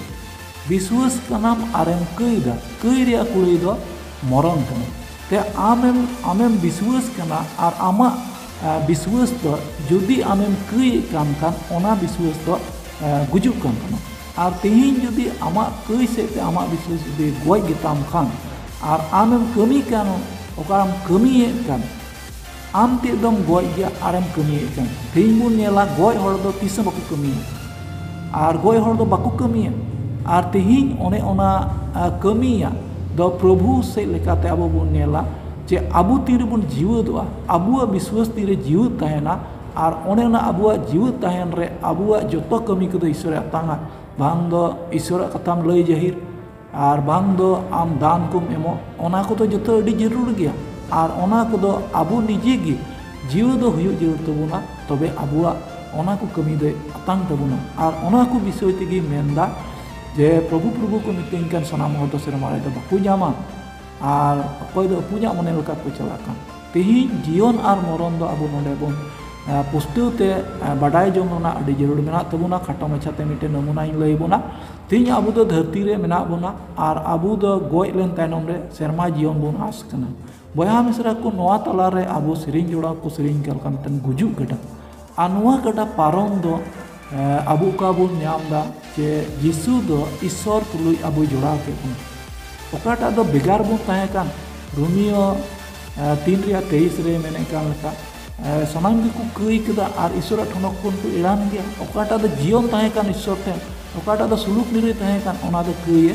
ᱵᱤᱥᱣᱟᱥ ᱠᱟᱱᱟᱢ ᱟᱨᱮᱢ ᱠᱟᱹᱭᱫᱟ ᱠᱟᱹᱭ ᱨᱮᱭᱟᱜ ᱠᱩᱲᱟᱹᱭ ᱫᱚ ᱢᱚᱨᱚᱱ ᱠᱟᱱᱟ ᱛᱮ ᱟᱢᱮᱢ ᱟᱢᱮᱢ ᱵᱤᱥᱣᱟᱥ ᱠᱟᱱᱟ ᱟᱨ ᱟᱢᱟᱜ ᱵᱤᱥᱣᱟᱹᱥ ᱫᱚ ᱡᱩᱫᱤ ᱟᱢᱮᱢ ᱠᱟᱹᱭᱮᱫ ᱠᱟᱱ ᱠᱷᱟᱱ ᱚᱱᱟ ᱵᱤᱥᱣᱟᱹᱥ ᱫᱚ ᱜᱩᱡᱩᱜ ᱠᱟᱱ ᱛᱟᱢᱟ ᱟᱨ ᱛᱮᱦᱮᱧ ᱡᱩᱫᱤ ᱟᱢᱟᱜ ᱠᱟᱹᱭ ᱥᱮᱫ ᱛᱮ ᱟᱢᱟᱜ ᱵᱤᱥᱣᱟᱹᱥ ᱡᱩᱫᱤ ᱜᱚᱡ ᱜᱮᱛᱟᱢ ᱠᱷᱟᱱ ᱟᱨ ᱟᱢᱮᱢ ᱠᱟᱹᱢᱤ ᱠᱟᱱ ᱚᱠᱟᱢ ᱠᱟᱹᱢᱤᱭᱮᱫ ᱠᱟᱱ ᱟᱢ ᱛᱮᱫ ᱫᱚᱢ ᱜᱚᱡ ᱜᱮᱭᱟ ᱟᱨᱮᱢ ᱠᱟᱹᱢᱤᱭᱮᱫ ᱠᱟᱱ ᱛᱮᱦᱮᱧ ᱵᱚᱱ ᱧᱮᱞᱟ ᱜᱚᱡ ᱦᱚᱲ ᱫᱚ ᱛᱤᱥ ᱦᱚᱸ ᱵᱟᱠᱚ ᱠᱟᱹᱢᱤᱭᱟ ᱟᱨ ᱜᱚᱡ ᱦᱚᱲ ᱫᱚ ᱵᱟᱠᱚ ᱠᱟᱹᱢᱤᱭᱟ ᱟᱨ ᱛᱮᱦᱮᱧ ᱚᱱᱮ ᱚᱱᱟ ᱠᱟᱹᱢᱤᱭᱟᱜ ᱫᱚ ᱯᱨᱚᱵᱷᱩ ᱥᱮᱫ ᱞᱮᱠᱟᱛᱮ ᱟᱵᱚ ᱵᱚᱱ ᱧᱮᱞᱟ ᱡᱮ ᱟᱵᱚ ᱛᱤᱱ ᱨᱮᱵᱚᱱ ᱡᱤᱣᱮᱫᱚᱜᱼᱟ ᱟᱵᱚᱣᱟᱜ ᱵᱤᱥᱣᱟᱹᱥ ᱛᱤᱱ ᱨᱮ ᱡᱤᱣᱮᱫ ᱛᱟᱦᱮᱱᱟ ᱟᱨ ᱚᱱᱮ ᱚᱱᱟ ᱟᱵᱚᱣᱟᱜ ᱡᱤᱣᱮᱫ ᱛᱟᱦᱮᱱ ᱨᱮ ᱟᱵᱚᱣᱟᱜ ᱡᱚᱛᱚ ᱠᱟᱹᱢᱤ ᱠᱚᱫᱚ ᱤᱥᱥᱚᱨᱮ ᱟᱛᱟᱝᱼᱟ ᱵᱟᱝ ᱫᱚ ᱤᱥᱥᱚᱨᱟᱜ ᱠᱟᱛᱷᱟᱢ ᱞᱟᱹᱭ ᱡᱟᱹᱦᱤᱨ ᱟᱨ ᱵᱟᱝ ᱫᱚ ᱟᱢ ᱫᱟᱱ ᱠᱚᱢ ᱮᱢᱚᱜ ᱚᱱᱟ ᱠᱚᱫᱚ ᱡᱚᱛᱚ ᱟᱹᱰᱤ ᱡᱟᱹᱨᱩᱲ ᱜᱮᱭᱟ ᱟᱨ ᱚᱱᱟ ᱠᱚᱫᱚ ᱟᱵᱚ ᱱᱤᱡᱮ ᱜᱮ ᱡᱤᱣᱮᱫᱚᱜ ᱦᱩᱭᱩᱜ ᱡᱟᱹᱨᱩᱲ ᱛᱟᱵᱚᱱᱟ ᱛᱚᱵᱮ ᱟᱵᱚᱣᱟᱜ ᱚᱱᱟ ᱠᱚ ᱠᱟᱹᱢᱤ ᱫᱚᱭ ᱟᱛᱟᱝ ᱛᱟᱵᱚᱱᱟ ᱟᱨ ᱚᱱᱟ ᱠᱚ ᱵᱤᱥᱚᱭ ᱛᱮᱜᱮᱧ ᱢᱮᱱᱫᱟ ᱡᱮ ᱯᱨᱚᱵᱷᱩ ᱯᱨᱚᱵᱷᱩ ᱠᱚ ᱢᱤᱛᱟᱹᱧ ᱠᱟᱱ ᱥᱟᱱᱟᱢ ᱦᱚᱲ ᱫᱚ ᱥᱮᱨᱢᱟ ᱨᱮᱫᱚ ᱵᱟᱠᱚ ᱧᱟᱢᱟ ᱟᱨ ᱚᱠᱚᱭ ᱫᱚ ᱟᱹᱯᱩᱧᱟᱜ ᱢᱚᱱᱮ ᱞᱮᱠᱟ ᱠᱚ ᱪᱟᱞᱟᱜ ᱠᱟᱱ ᱛᱮᱦᱮᱧ ᱡᱤᱭᱚᱱ ᱟᱨ ᱢᱚᱨᱚᱱ ᱫᱚ ᱟᱵᱚ ᱱᱚᱰᱮ ᱵᱚᱱ ᱯᱩᱥᱴᱟᱹᱣ ᱛᱮ ᱵᱟᱰᱟᱭ ᱡᱚᱝ ᱨᱮᱱᱟᱜ ᱟᱹᱰᱤ ᱡᱟᱹᱨᱩᱲ ᱢᱮᱱᱟᱜ ᱛᱟᱵᱚᱱᱟ ᱠᱷᱟᱴᱚ ᱢᱟᱪᱷᱟ ᱛᱮ ᱢᱤᱫᱴᱮᱱ ᱱᱚᱢᱩᱱᱟᱹᱧ ᱞᱟᱹᱭ ᱟᱵᱚᱱᱟ ᱛᱮᱦᱮᱧ ᱟᱵᱚ ᱫᱚ ᱫᱷᱟᱹᱨᱛᱤ ᱨᱮ ᱢᱮᱱᱟᱜ ᱵᱚᱱᱟ ᱟᱨ ᱟᱵᱚ ᱫᱚ ᱜᱚᱡ ᱞᱮᱱ ᱛᱟᱭᱱᱚᱢ ᱨᱮ ᱥᱮᱨᱢᱟ ᱡᱤᱭᱚᱱ ᱵᱚᱱ ᱟᱸᱥ ᱠᱟᱱᱟ ᱵᱚᱭᱦᱟ ᱢᱤᱥᱨᱟ ᱠᱚ ᱱᱚᱣᱟ ᱛᱟᱞᱟᱨᱮ ᱟᱵᱚ ᱥᱮᱨᱮᱧ ᱡᱚᱲᱟᱣ ᱠᱚ ᱥᱮᱨᱮᱧ ᱠᱟᱫᱟ ᱢᱤᱫᱴᱟᱝ ᱜᱩᱡᱩᱜ ᱜᱮᱰᱟ ᱟᱨ ᱱᱚᱣᱟ ᱜᱟᱰᱟ ᱯᱟᱨᱚᱢ ᱫᱚ ᱟᱵᱚ ᱚᱠᱟ ᱵᱚᱱ ᱧᱟᱢ ᱮᱫᱟ ᱡᱮ ᱡᱤᱥᱩ ᱫᱚ ᱤᱥᱥᱚᱨ ᱛᱩᱞᱩᱡ ᱟᱵᱚᱭ ᱡᱚᱲᱟᱣ ᱠᱮᱫ ᱵᱚᱱᱟ ᱚᱠᱟᱴᱟᱜ ᱫᱚ ᱵᱷᱮᱜᱟᱨ ᱵᱚᱱ ᱛᱟᱦᱮᱸ ᱠᱟᱱ ᱨᱳᱢᱤᱭᱳ ᱛᱤᱱ ᱨᱮᱭᱟᱜ ᱛᱮᱭᱤᱥ ᱨᱮ ᱢᱮᱱᱮᱫ ᱠᱟᱱ ᱞᱮᱠᱟ ᱥᱟᱱᱟᱢ ᱜᱮᱠᱚ ᱠᱟᱹᱭ ᱠᱮᱫᱟ ᱟᱨ ᱤᱥᱥᱚᱨᱟᱜ ᱴᱷᱚᱱᱚᱠ ᱠᱷᱚᱱ ᱠᱚ ᱮᱲᱟᱱ ᱜᱮᱭᱟ ᱚᱠᱟᱴᱟᱜ ᱫᱚ ᱡᱤᱭᱚᱱ ᱛᱟᱦᱮᱸ ᱠᱟᱱ ᱤᱥᱥᱚᱨ ᱴᱷᱮᱱ ᱚᱠᱟᱴᱟᱜ ᱫᱚ ᱥᱩᱞᱩᱠ ᱱᱤᱨᱟᱹᱭ ᱛᱟᱦᱮᱸ ᱠᱟᱱ ᱚᱱᱟ ᱫᱚ ᱠᱟᱹᱭᱮ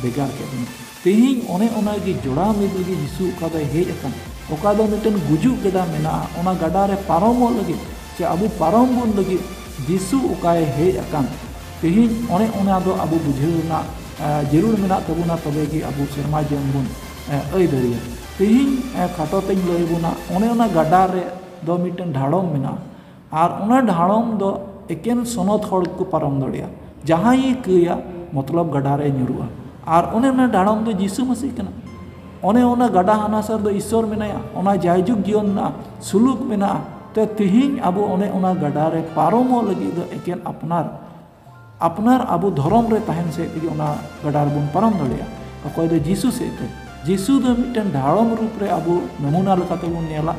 ᱵᱷᱮᱜᱟᱨ ᱠᱮᱫ ᱵᱚᱱᱟ ᱛᱮᱦᱮᱧ ᱚᱱᱮ ᱚᱱᱟ ᱜᱮ ᱡᱚᱲᱟᱣ ᱢᱤᱫ ᱞᱟᱹᱜᱤᱫ ᱡᱤᱥᱩ ᱚᱠᱟ ᱫᱚᱭ ᱦᱮᱡ ᱟᱠᱟᱱ ᱚᱠᱟ ᱫᱚ ᱢᱤᱫᱴᱮᱱ ᱜᱩᱡᱩᱜ ᱜᱟᱰᱟ ᱢᱮᱱᱟᱜᱼᱟ ᱚᱱᱟ ᱜᱟᱰᱟ ᱨᱮ ᱯᱟᱨᱚᱢᱚᱜ ᱞᱟᱹᱜᱤᱫ ᱥᱮ ᱟᱵᱚ ᱯᱟᱨᱚᱢ ᱵᱚᱱ ᱞᱟᱹᱜᱤᱫ ᱡᱤᱥᱩ ᱚᱠᱟᱭ ᱦᱮᱡ ᱟᱠᱟᱱ ᱛᱮᱦᱮᱧ ᱚᱱᱮ ᱚᱱᱟ ᱫᱚ ᱟᱵᱚ ᱵᱩᱡᱷᱟᱹᱣ ᱨᱮᱱᱟᱜ ᱡᱟᱹᱨᱩᱲ ᱢᱮᱱᱟᱜ ᱛᱟᱵᱚᱱᱟ ᱛᱚᱵᱮ ᱜᱮ ᱟᱵᱚ ᱥᱮᱨᱢᱟ ᱡᱤᱭᱚᱱ ᱵᱚᱱ ᱟᱹᱭ ᱫᱟᱲᱮᱭᱟᱜᱼᱟ ᱛᱮᱦᱮᱧ ᱠᱷᱟᱴᱚ ᱛᱮᱧ ᱞᱟᱹᱭ ᱟᱵᱚᱱᱟ ᱚᱱᱮ ᱚᱱᱟ ᱜᱟᱰᱟ ᱨᱮ ᱫᱚ ᱢᱤᱫᱴᱮᱱ ᱰᱷᱟᱲᱚᱢ ᱢᱮᱱᱟᱜᱼᱟ ᱟᱨ ᱚᱱᱟ ᱰᱷᱟᱲᱚᱢ ᱫᱚ ᱮᱠᱮᱱ ᱥᱚᱱᱚᱛ ᱦᱚᱲ ᱜᱮᱠᱚ ᱯᱟᱨᱚᱢ ᱫᱟᱲᱮᱭᱟᱜᱼᱟ ᱡᱟᱦᱟᱸᱭᱮ ᱠᱟᱹᱭᱟ ᱢᱚᱛᱞᱚᱵ ᱜᱟᱰᱟ ᱨᱮᱭ ᱧᱩᱨᱩᱜᱼᱟ ᱟᱨ ᱚᱱᱮ ᱚᱱᱟ ᱰᱷᱟᱲᱚᱢ ᱫᱚ ᱡᱤᱥᱩ ᱢᱟᱹᱥᱤ ᱠᱟᱱᱟ ᱚᱱᱮ ᱚᱱᱟ ᱜᱟᱰᱟ ᱦᱟᱱᱟ ᱥᱟᱨ ᱫᱚ ᱤᱥᱥᱚᱨ ᱢᱮᱱᱟᱭᱟ ᱚᱱᱟ ᱡᱟᱭ ᱡᱩᱜᱽ ᱡᱤᱭᱚᱱ ᱢᱮᱱᱟᱜᱼᱟ ᱥᱩᱞᱩᱠ ᱢᱮᱱᱟᱜᱼᱟ ᱛᱮ ᱛᱮᱦᱮᱧ ᱟᱵᱚ ᱚᱱᱮ ᱚᱱᱟ ᱜᱟᱰᱟ ᱨᱮ ᱯᱟᱨᱚᱢᱚᱜ ᱞᱟᱹᱜᱤᱫ ᱫᱚ ᱮᱠᱮᱱ ᱟᱯᱱᱟᱨ ᱟᱯᱱᱟᱨ ᱟᱵᱚ ᱫᱷᱚᱨᱚᱢ ᱨᱮ ᱛᱟᱦᱮᱱ ᱥᱮᱫ ᱛᱮᱜᱮ ᱚᱱᱟ ᱜᱟᱰᱟ ᱨᱮᱵᱚᱱ ᱯᱟᱨᱚᱢ ᱫᱟᱲᱮᱭᱟᱜᱼᱟ ᱚᱠᱚᱭ ᱫᱚ ᱡᱤᱥᱩ ᱥᱮᱫ ᱛᱮ ᱡᱤᱥᱩ ᱫᱚ ᱢᱤᱫᱴᱮᱱ ᱰᱷᱟᱲᱚᱢ ᱨᱩᱯ ᱨᱮ ᱟᱵᱚ ᱱᱚᱢᱩᱱᱟ ᱞᱮᱠᱟᱛᱮ ᱵᱚᱱ ᱧᱮᱞᱟ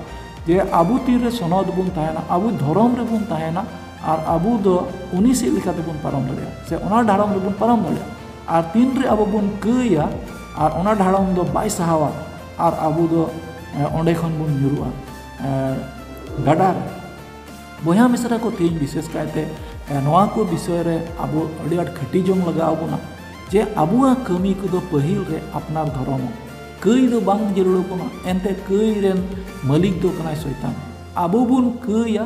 ᱡᱮ ᱟᱵᱚ ᱛᱤᱨᱮ ᱥᱚᱱᱚᱫ ᱵᱚᱱ ᱛᱟᱦᱮᱱᱟ ᱟᱵᱚ ᱫᱷᱚᱨᱚᱢ ᱨᱮᱵᱚᱱ ᱛᱟᱦᱮᱱᱟ ᱟᱨ ᱟᱵᱚ ᱫᱚ ᱩᱱᱤ ᱥᱮᱫ ᱞᱮᱠᱟᱛᱮ ᱵᱚᱱ ᱯᱟᱨᱚᱢ ᱫᱟᱲᱮᱭᱟᱜᱼᱟ ᱥᱮ ᱚᱱᱟ ᱰᱷᱟᱲᱚᱢ ᱨᱮᱵᱚᱱ ᱯᱟᱨᱚᱢ ᱫᱟᱲᱮᱭᱟᱜᱼᱟ ᱟᱨ ᱛᱤᱱ ᱨᱮ ᱟᱵᱚ ᱵᱚᱱ ᱠᱟᱹᱭᱟ ᱟᱨ ᱚᱱᱟ ᱰᱷᱟᱲᱚᱢ ᱫᱚ ᱵᱟᱭ ᱥᱟᱦᱟᱣᱟ ᱟᱨ ᱟᱵᱚ ᱫᱚ ᱚᱸᱰᱮ ᱠᱷᱚᱱ ᱵᱚᱱ ᱧᱩᱨᱩᱜᱼᱟ ᱜᱟᱰᱟ ᱨᱮ ᱵᱚᱭᱦᱟ ᱢᱤᱥᱨᱟ ᱠᱚ ᱛᱮᱦᱮᱧ ᱵᱤᱥᱮᱥ ᱠᱟᱭᱛᱮ ᱱᱚᱣᱟ ᱠᱚ ᱵᱤᱥᱚᱭ ᱨᱮ ᱟᱵᱚ ᱟᱹᱰᱤ ᱟᱸᱴ ᱠᱷᱟᱹᱴᱤ ᱡᱚᱝ ᱞᱟᱜᱟᱣ ᱵᱚᱱᱟ ᱡᱮ ᱟᱵᱚᱣᱟᱜ ᱠᱟᱹᱢᱤ ᱠᱚᱫᱚ ᱯᱟᱹᱦᱤᱞ ᱨᱮ ᱟᱯᱱᱟᱨ ᱫᱷᱚᱨᱚᱢ ᱠᱟᱹᱭ ᱫᱚ ᱵᱟᱝ ᱡᱟᱹᱨᱩᱲ ᱵᱚᱱᱟ ᱮᱱᱛᱮ ᱠᱟᱹᱭ ᱨᱮᱱ ᱢᱟᱹᱞᱤᱠ ᱫᱚ ᱠᱟᱱᱟᱭ ᱥᱚᱭᱛᱟᱱ ᱟᱵᱚ ᱵᱚᱱ ᱠᱟᱹᱭᱟ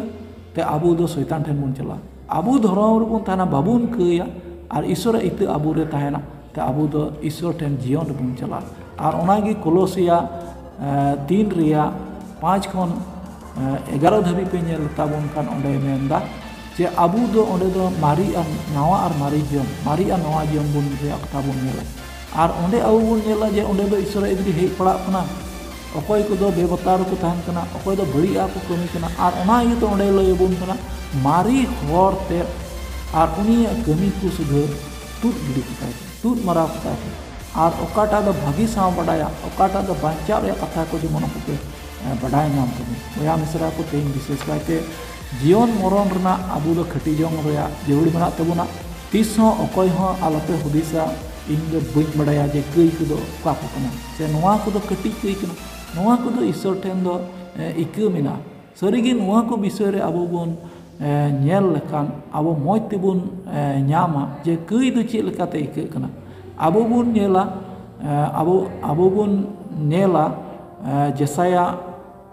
ᱛᱮ ᱟᱵᱚ ᱫᱚ ᱥᱚᱭᱛᱟᱱ ᱴᱷᱮᱱ ᱵᱚᱱ ᱪᱟᱞᱟᱜᱼᱟ ᱟᱵᱚ ᱫᱷᱚᱨᱚᱢ ᱨᱮᱵᱚᱱ ᱛᱟᱦᱮᱱᱟ ᱵᱟᱵᱚᱱ ᱠᱟᱹᱭᱟ ᱟᱨ ᱤᱥᱥᱚᱨᱟᱜ ᱤᱛᱟᱹ ᱟᱵᱚ ᱨᱮ ᱛᱟᱦᱮᱱᱟ ᱛᱮ ᱟᱵᱚ ᱫᱚ ᱤᱥᱥᱚᱨ ᱴᱷᱮᱱ ᱡᱤᱭᱚᱱ ᱨᱮᱵᱚᱱ ᱪᱟᱞᱟᱜᱼᱟ ᱟᱨ ᱚᱱᱟᱜᱮ ᱠᱚᱞᱚᱥᱤᱭᱟ ᱛᱤᱱ ᱨᱮᱭᱟᱜ ᱯᱟᱸᱪ ᱠᱷᱚᱱ ᱮᱜᱟᱨᱚ ᱫᱷᱟᱹᱵᱤᱡ ᱯᱮ ᱧᱮᱞ ᱛᱟᱵᱚᱱ ᱠᱷᱟᱱ ᱚᱸᱰᱮ ᱢᱮᱱᱫᱟ ᱡᱮ ᱟᱵᱚ ᱫᱚ ᱚᱸᱰᱮ ᱫᱚ ᱢᱟᱨᱮ ᱟᱨ ᱱᱟᱣᱟ ᱟᱨ ᱢᱟᱨᱮ ᱡᱤᱭᱚᱱ ᱢᱟᱨᱮ ᱟᱨ ᱱᱟᱣᱟ ᱡᱤᱭᱚᱱ ᱵᱚᱱ ᱨᱮᱭᱟᱜ ᱠᱟᱛᱷᱟ ᱵᱚᱱ ᱧᱮᱞᱟ ᱟᱨ ᱚᱸᱰᱮ ᱟᱵᱚ ᱵᱚᱱ ᱧᱮᱞᱟ ᱡᱮ ᱚᱸᱰᱮ ᱫᱚ ᱤᱥᱥᱚᱨᱟᱜ ᱮᱫᱽᱨᱮ ᱦᱮᱡ ᱯᱟᱲᱟᱜ ᱠᱟᱱᱟ ᱚᱠᱚᱭ ᱠᱚᱫᱚ ᱵᱮᱵᱚᱛᱟᱨ ᱠᱚ ᱛᱟᱦᱮᱱ ᱠᱟᱱᱟ ᱚᱠᱚᱭ ᱫᱚ ᱵᱟᱹᱲᱤᱡ ᱟᱜ ᱠᱚ ᱠᱟᱹᱢᱤ ᱠᱟᱱᱟ ᱟᱨ ᱚᱱᱟ ᱤᱭᱟᱹᱛᱮ ᱚᱸᱰᱮ ᱞᱟᱹᱭ ᱟᱵᱚᱱ ᱠᱟᱱᱟ ᱢᱟᱨᱮ ᱦᱚᱨᱛᱮ ᱟᱨ ᱩᱱᱤᱭᱟᱜ ᱠᱟᱹᱢᱤ ᱠᱚ ᱥᱩᱫᱷᱟᱹᱨ ᱛᱩᱫ ᱜᱤᱰᱤ ᱠᱮᱫᱟ ᱠᱚ ᱛᱩᱫ ᱢᱟᱨᱟᱣ ᱠᱮᱫᱟ ᱠᱚ ᱟᱨ ᱚᱠᱟᱴᱟᱜ ᱫᱚ ᱵᱷᱟᱹᱜᱤ ᱥᱟᱶ ᱵᱟᱰᱟᱭᱟ ᱚᱠᱟᱴᱟᱜ ᱫᱚ ᱵᱟᱧᱪᱟᱜ ᱨᱮᱭᱟᱜ ᱠᱟᱛᱷᱟ ᱠᱚ ᱡᱮᱢᱚᱱ ᱩᱱᱠᱩ ᱠᱚ ᱵᱟᱰᱟᱭ ᱧᱟᱢ ᱛᱟᱵᱚᱱ ᱵᱚᱭᱦᱟ ᱢᱤᱥᱨᱟ ᱠᱚ ᱛᱮᱦᱮᱧ ᱵᱤᱥᱮᱥ ᱠᱟᱭᱛᱮ ᱡᱤᱭᱚᱱ ᱢᱚᱨᱚᱱ ᱨᱮᱱᱟᱜ ᱟᱵᱚ ᱫᱚ ᱠᱷᱟᱹᱴᱤ ᱡᱚᱝ ᱨᱮᱭᱟᱜ ᱡᱟᱹᱨᱩᱲ ᱢᱮᱱᱟᱜ ᱛᱟᱵᱚᱱᱟ ᱛᱤᱥ ᱦᱚᱸ ᱚᱠᱚᱭ ᱦᱚᱸ ᱟᱞᱚᱯᱮ ᱦᱩᱫᱤᱥᱟ ᱤᱧ ᱫᱚ ᱵᱟᱹᱧ ᱵᱟᱰᱟᱭᱟ ᱡᱮ ᱠᱟᱹᱭ ᱠᱚᱫᱚ ᱚᱠᱟ ᱠᱚ ᱠᱟᱱᱟ ᱥᱮ ᱱᱚᱣᱟ ᱠᱚᱫᱚ ᱠᱟᱹᱴᱤᱡ ᱠᱟᱹᱭ ᱠᱟᱱᱟ ᱱᱚᱣᱟ ᱠᱚᱫᱚ ᱤᱥᱥᱚᱨ ᱴᱷᱮᱱ ᱫᱚ ᱤᱠᱟᱹ ᱢᱮᱱᱟᱜᱼᱟ ᱥᱟᱹᱨᱤᱜᱮ ᱱᱚᱣᱟ ᱠᱚ ᱵᱤᱥᱚᱭ ᱨᱮ ᱟᱵᱚ ᱵᱚᱱ ᱧᱮᱞ ᱞᱮᱠᱷᱟᱱ ᱟᱵᱚ ᱢᱚᱡᱽ ᱛᱮᱵᱚᱱ ᱧᱟᱢᱟ ᱡᱮ ᱠᱟᱹᱭ ᱫᱚ ᱪᱮᱫ ᱞᱮᱠᱟᱛᱮ ᱟᱹᱭᱠᱟᱹᱜ ᱠᱟᱱᱟ ᱟᱵᱚ ᱵᱚᱱ ᱧᱮᱞᱟ ᱟᱵᱚ ᱟᱵᱚ ᱵᱚᱱ ᱧᱮᱞᱟ ᱡᱮᱥᱟᱭᱟ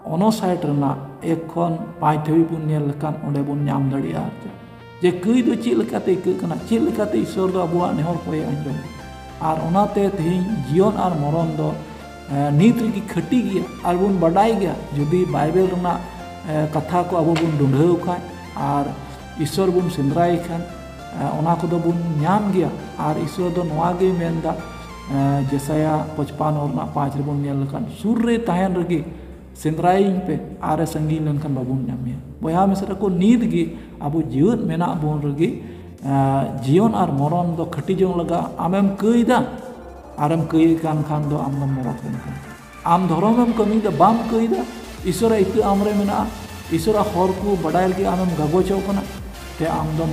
ᱚᱱᱟ ᱥᱟᱭᱤᱰ ᱨᱮᱱᱟᱜ ᱮᱠ ᱠᱷᱚᱱ ᱯᱟᱸᱪ ᱫᱷᱟᱹᱵᱤᱡ ᱵᱚᱱ ᱧᱮᱞ ᱞᱮᱠᱷᱟᱱ ᱚᱸᱰᱮ ᱵᱚᱱ ᱧᱟᱢ ᱫᱟᱲᱮᱭᱟᱜᱼᱟ ᱡᱮ ᱠᱟᱹᱭ ᱫᱚ ᱪᱮᱫ ᱞᱮᱠᱟᱛᱮ ᱟᱹᱭᱠᱟᱹᱜ ᱠᱟᱱᱟ ᱪᱮᱫ ᱞᱮᱠᱟᱛᱮ ᱤᱥᱚᱨ ᱫᱚ ᱟᱵᱚᱣᱟᱜ ᱱᱮᱦᱚᱨ ᱠᱚᱭ ᱟᱸᱡᱚᱢ ᱟᱨ ᱚᱱᱟᱛᱮ ᱛᱮᱦᱮᱧ ᱡᱤᱭᱚᱱ ᱟᱨ ᱢᱚᱨᱚᱱ ᱫᱚ ᱱᱤᱛ ᱨᱮᱜᱮ ᱠᱷᱟᱹᱴᱤ ᱜᱮᱭᱟ ᱟᱨ ᱵᱚᱱ ᱵᱟᱰᱟᱭ ᱜᱮᱭᱟ ᱡᱩᱫᱤ ᱵᱟᱭᱵᱮᱞ ᱨᱮᱱᱟᱜ ᱠᱟᱛᱷᱟ ᱠᱚ ᱟᱵᱚ ᱵᱚᱱ ᱰᱩᱰᱷᱟᱹᱣ ᱠᱷᱟᱱ ᱟᱨ ᱤᱥᱚᱨ ᱵᱚᱱ ᱥᱮᱸᱫᱽᱨᱟᱭ ᱠᱷᱟᱱ ᱚᱱᱟ ᱠᱚᱫᱚ ᱵᱚᱱ ᱧᱟᱢ ᱜᱮᱭᱟ ᱟᱨ ᱤᱥᱚᱨ ᱫᱚ ᱱᱚᱣᱟ ᱜᱮ ᱢᱮᱱᱫᱟ ᱡᱮᱥᱟᱭᱟ ᱯᱚᱪᱯᱟᱱᱱᱚ ᱨᱮᱱᱟᱜ ᱯᱟᱸᱪ ᱨᱮᱵᱚᱱ ᱧᱮᱞ ᱞᱮᱠᱷᱟᱱ ᱥᱩᱨ ᱨᱮ ᱛᱟᱦᱮᱱ ᱨᱮᱜᱮ ᱥᱮᱸᱫᱽᱨᱟᱭᱤᱧ ᱯᱮ ᱟᱨᱮ ᱥᱟᱺᱜᱤᱧ ᱞᱮᱱᱠᱷᱟᱱ ᱵᱟᱵᱚᱱ ᱧᱟᱢᱮᱭᱟ ᱵᱚᱭᱦᱟ ᱢᱤᱥᱨᱟ ᱠᱚ ᱱᱤᱛ ᱜᱮ ᱟᱵᱚ ᱡᱮᱣᱮᱫ ᱢᱮᱱᱟᱜ ᱵᱚᱱ ᱨᱮᱜᱮ ᱡᱤᱭᱚᱱ ᱟᱨ ᱢᱚᱨᱚᱱ ᱫᱚ ᱠᱷᱟᱹᱴᱤ ᱡᱚᱝ ᱞᱟᱜᱟᱜᱼᱟ ᱟᱢᱮᱢ ᱠᱟᱹᱭᱫᱟ ᱟᱨᱮᱢ ᱠᱟᱹᱭᱮ ᱠᱟᱱ ᱠᱷᱟᱱ ᱫᱚ ᱟᱢ ᱫᱚᱢ ᱢᱚᱨᱚᱠ ᱮᱱ ᱠᱟᱱᱟ ᱟᱢ ᱫᱷᱚᱨᱚᱢᱮᱢ ᱠᱟᱹᱢᱤᱭᱮᱫᱟ ᱵᱟᱢ ᱠᱟᱹᱭᱫᱟ ᱤᱥᱚᱨᱟᱜ ᱤᱛᱟᱹ ᱟᱢᱨᱮ ᱢᱮᱱᱟᱜᱼᱟ ᱤᱥᱚᱨᱟᱜ ᱦᱚᱨ ᱠᱚ ᱵᱟᱰᱟᱭ ᱞᱟᱹᱜᱤᱫ ᱟᱢᱮᱢ ᱜᱟᱜᱚᱪᱚᱜ ᱠᱟᱱᱟ ᱛᱮ ᱟᱢ ᱫᱚᱢ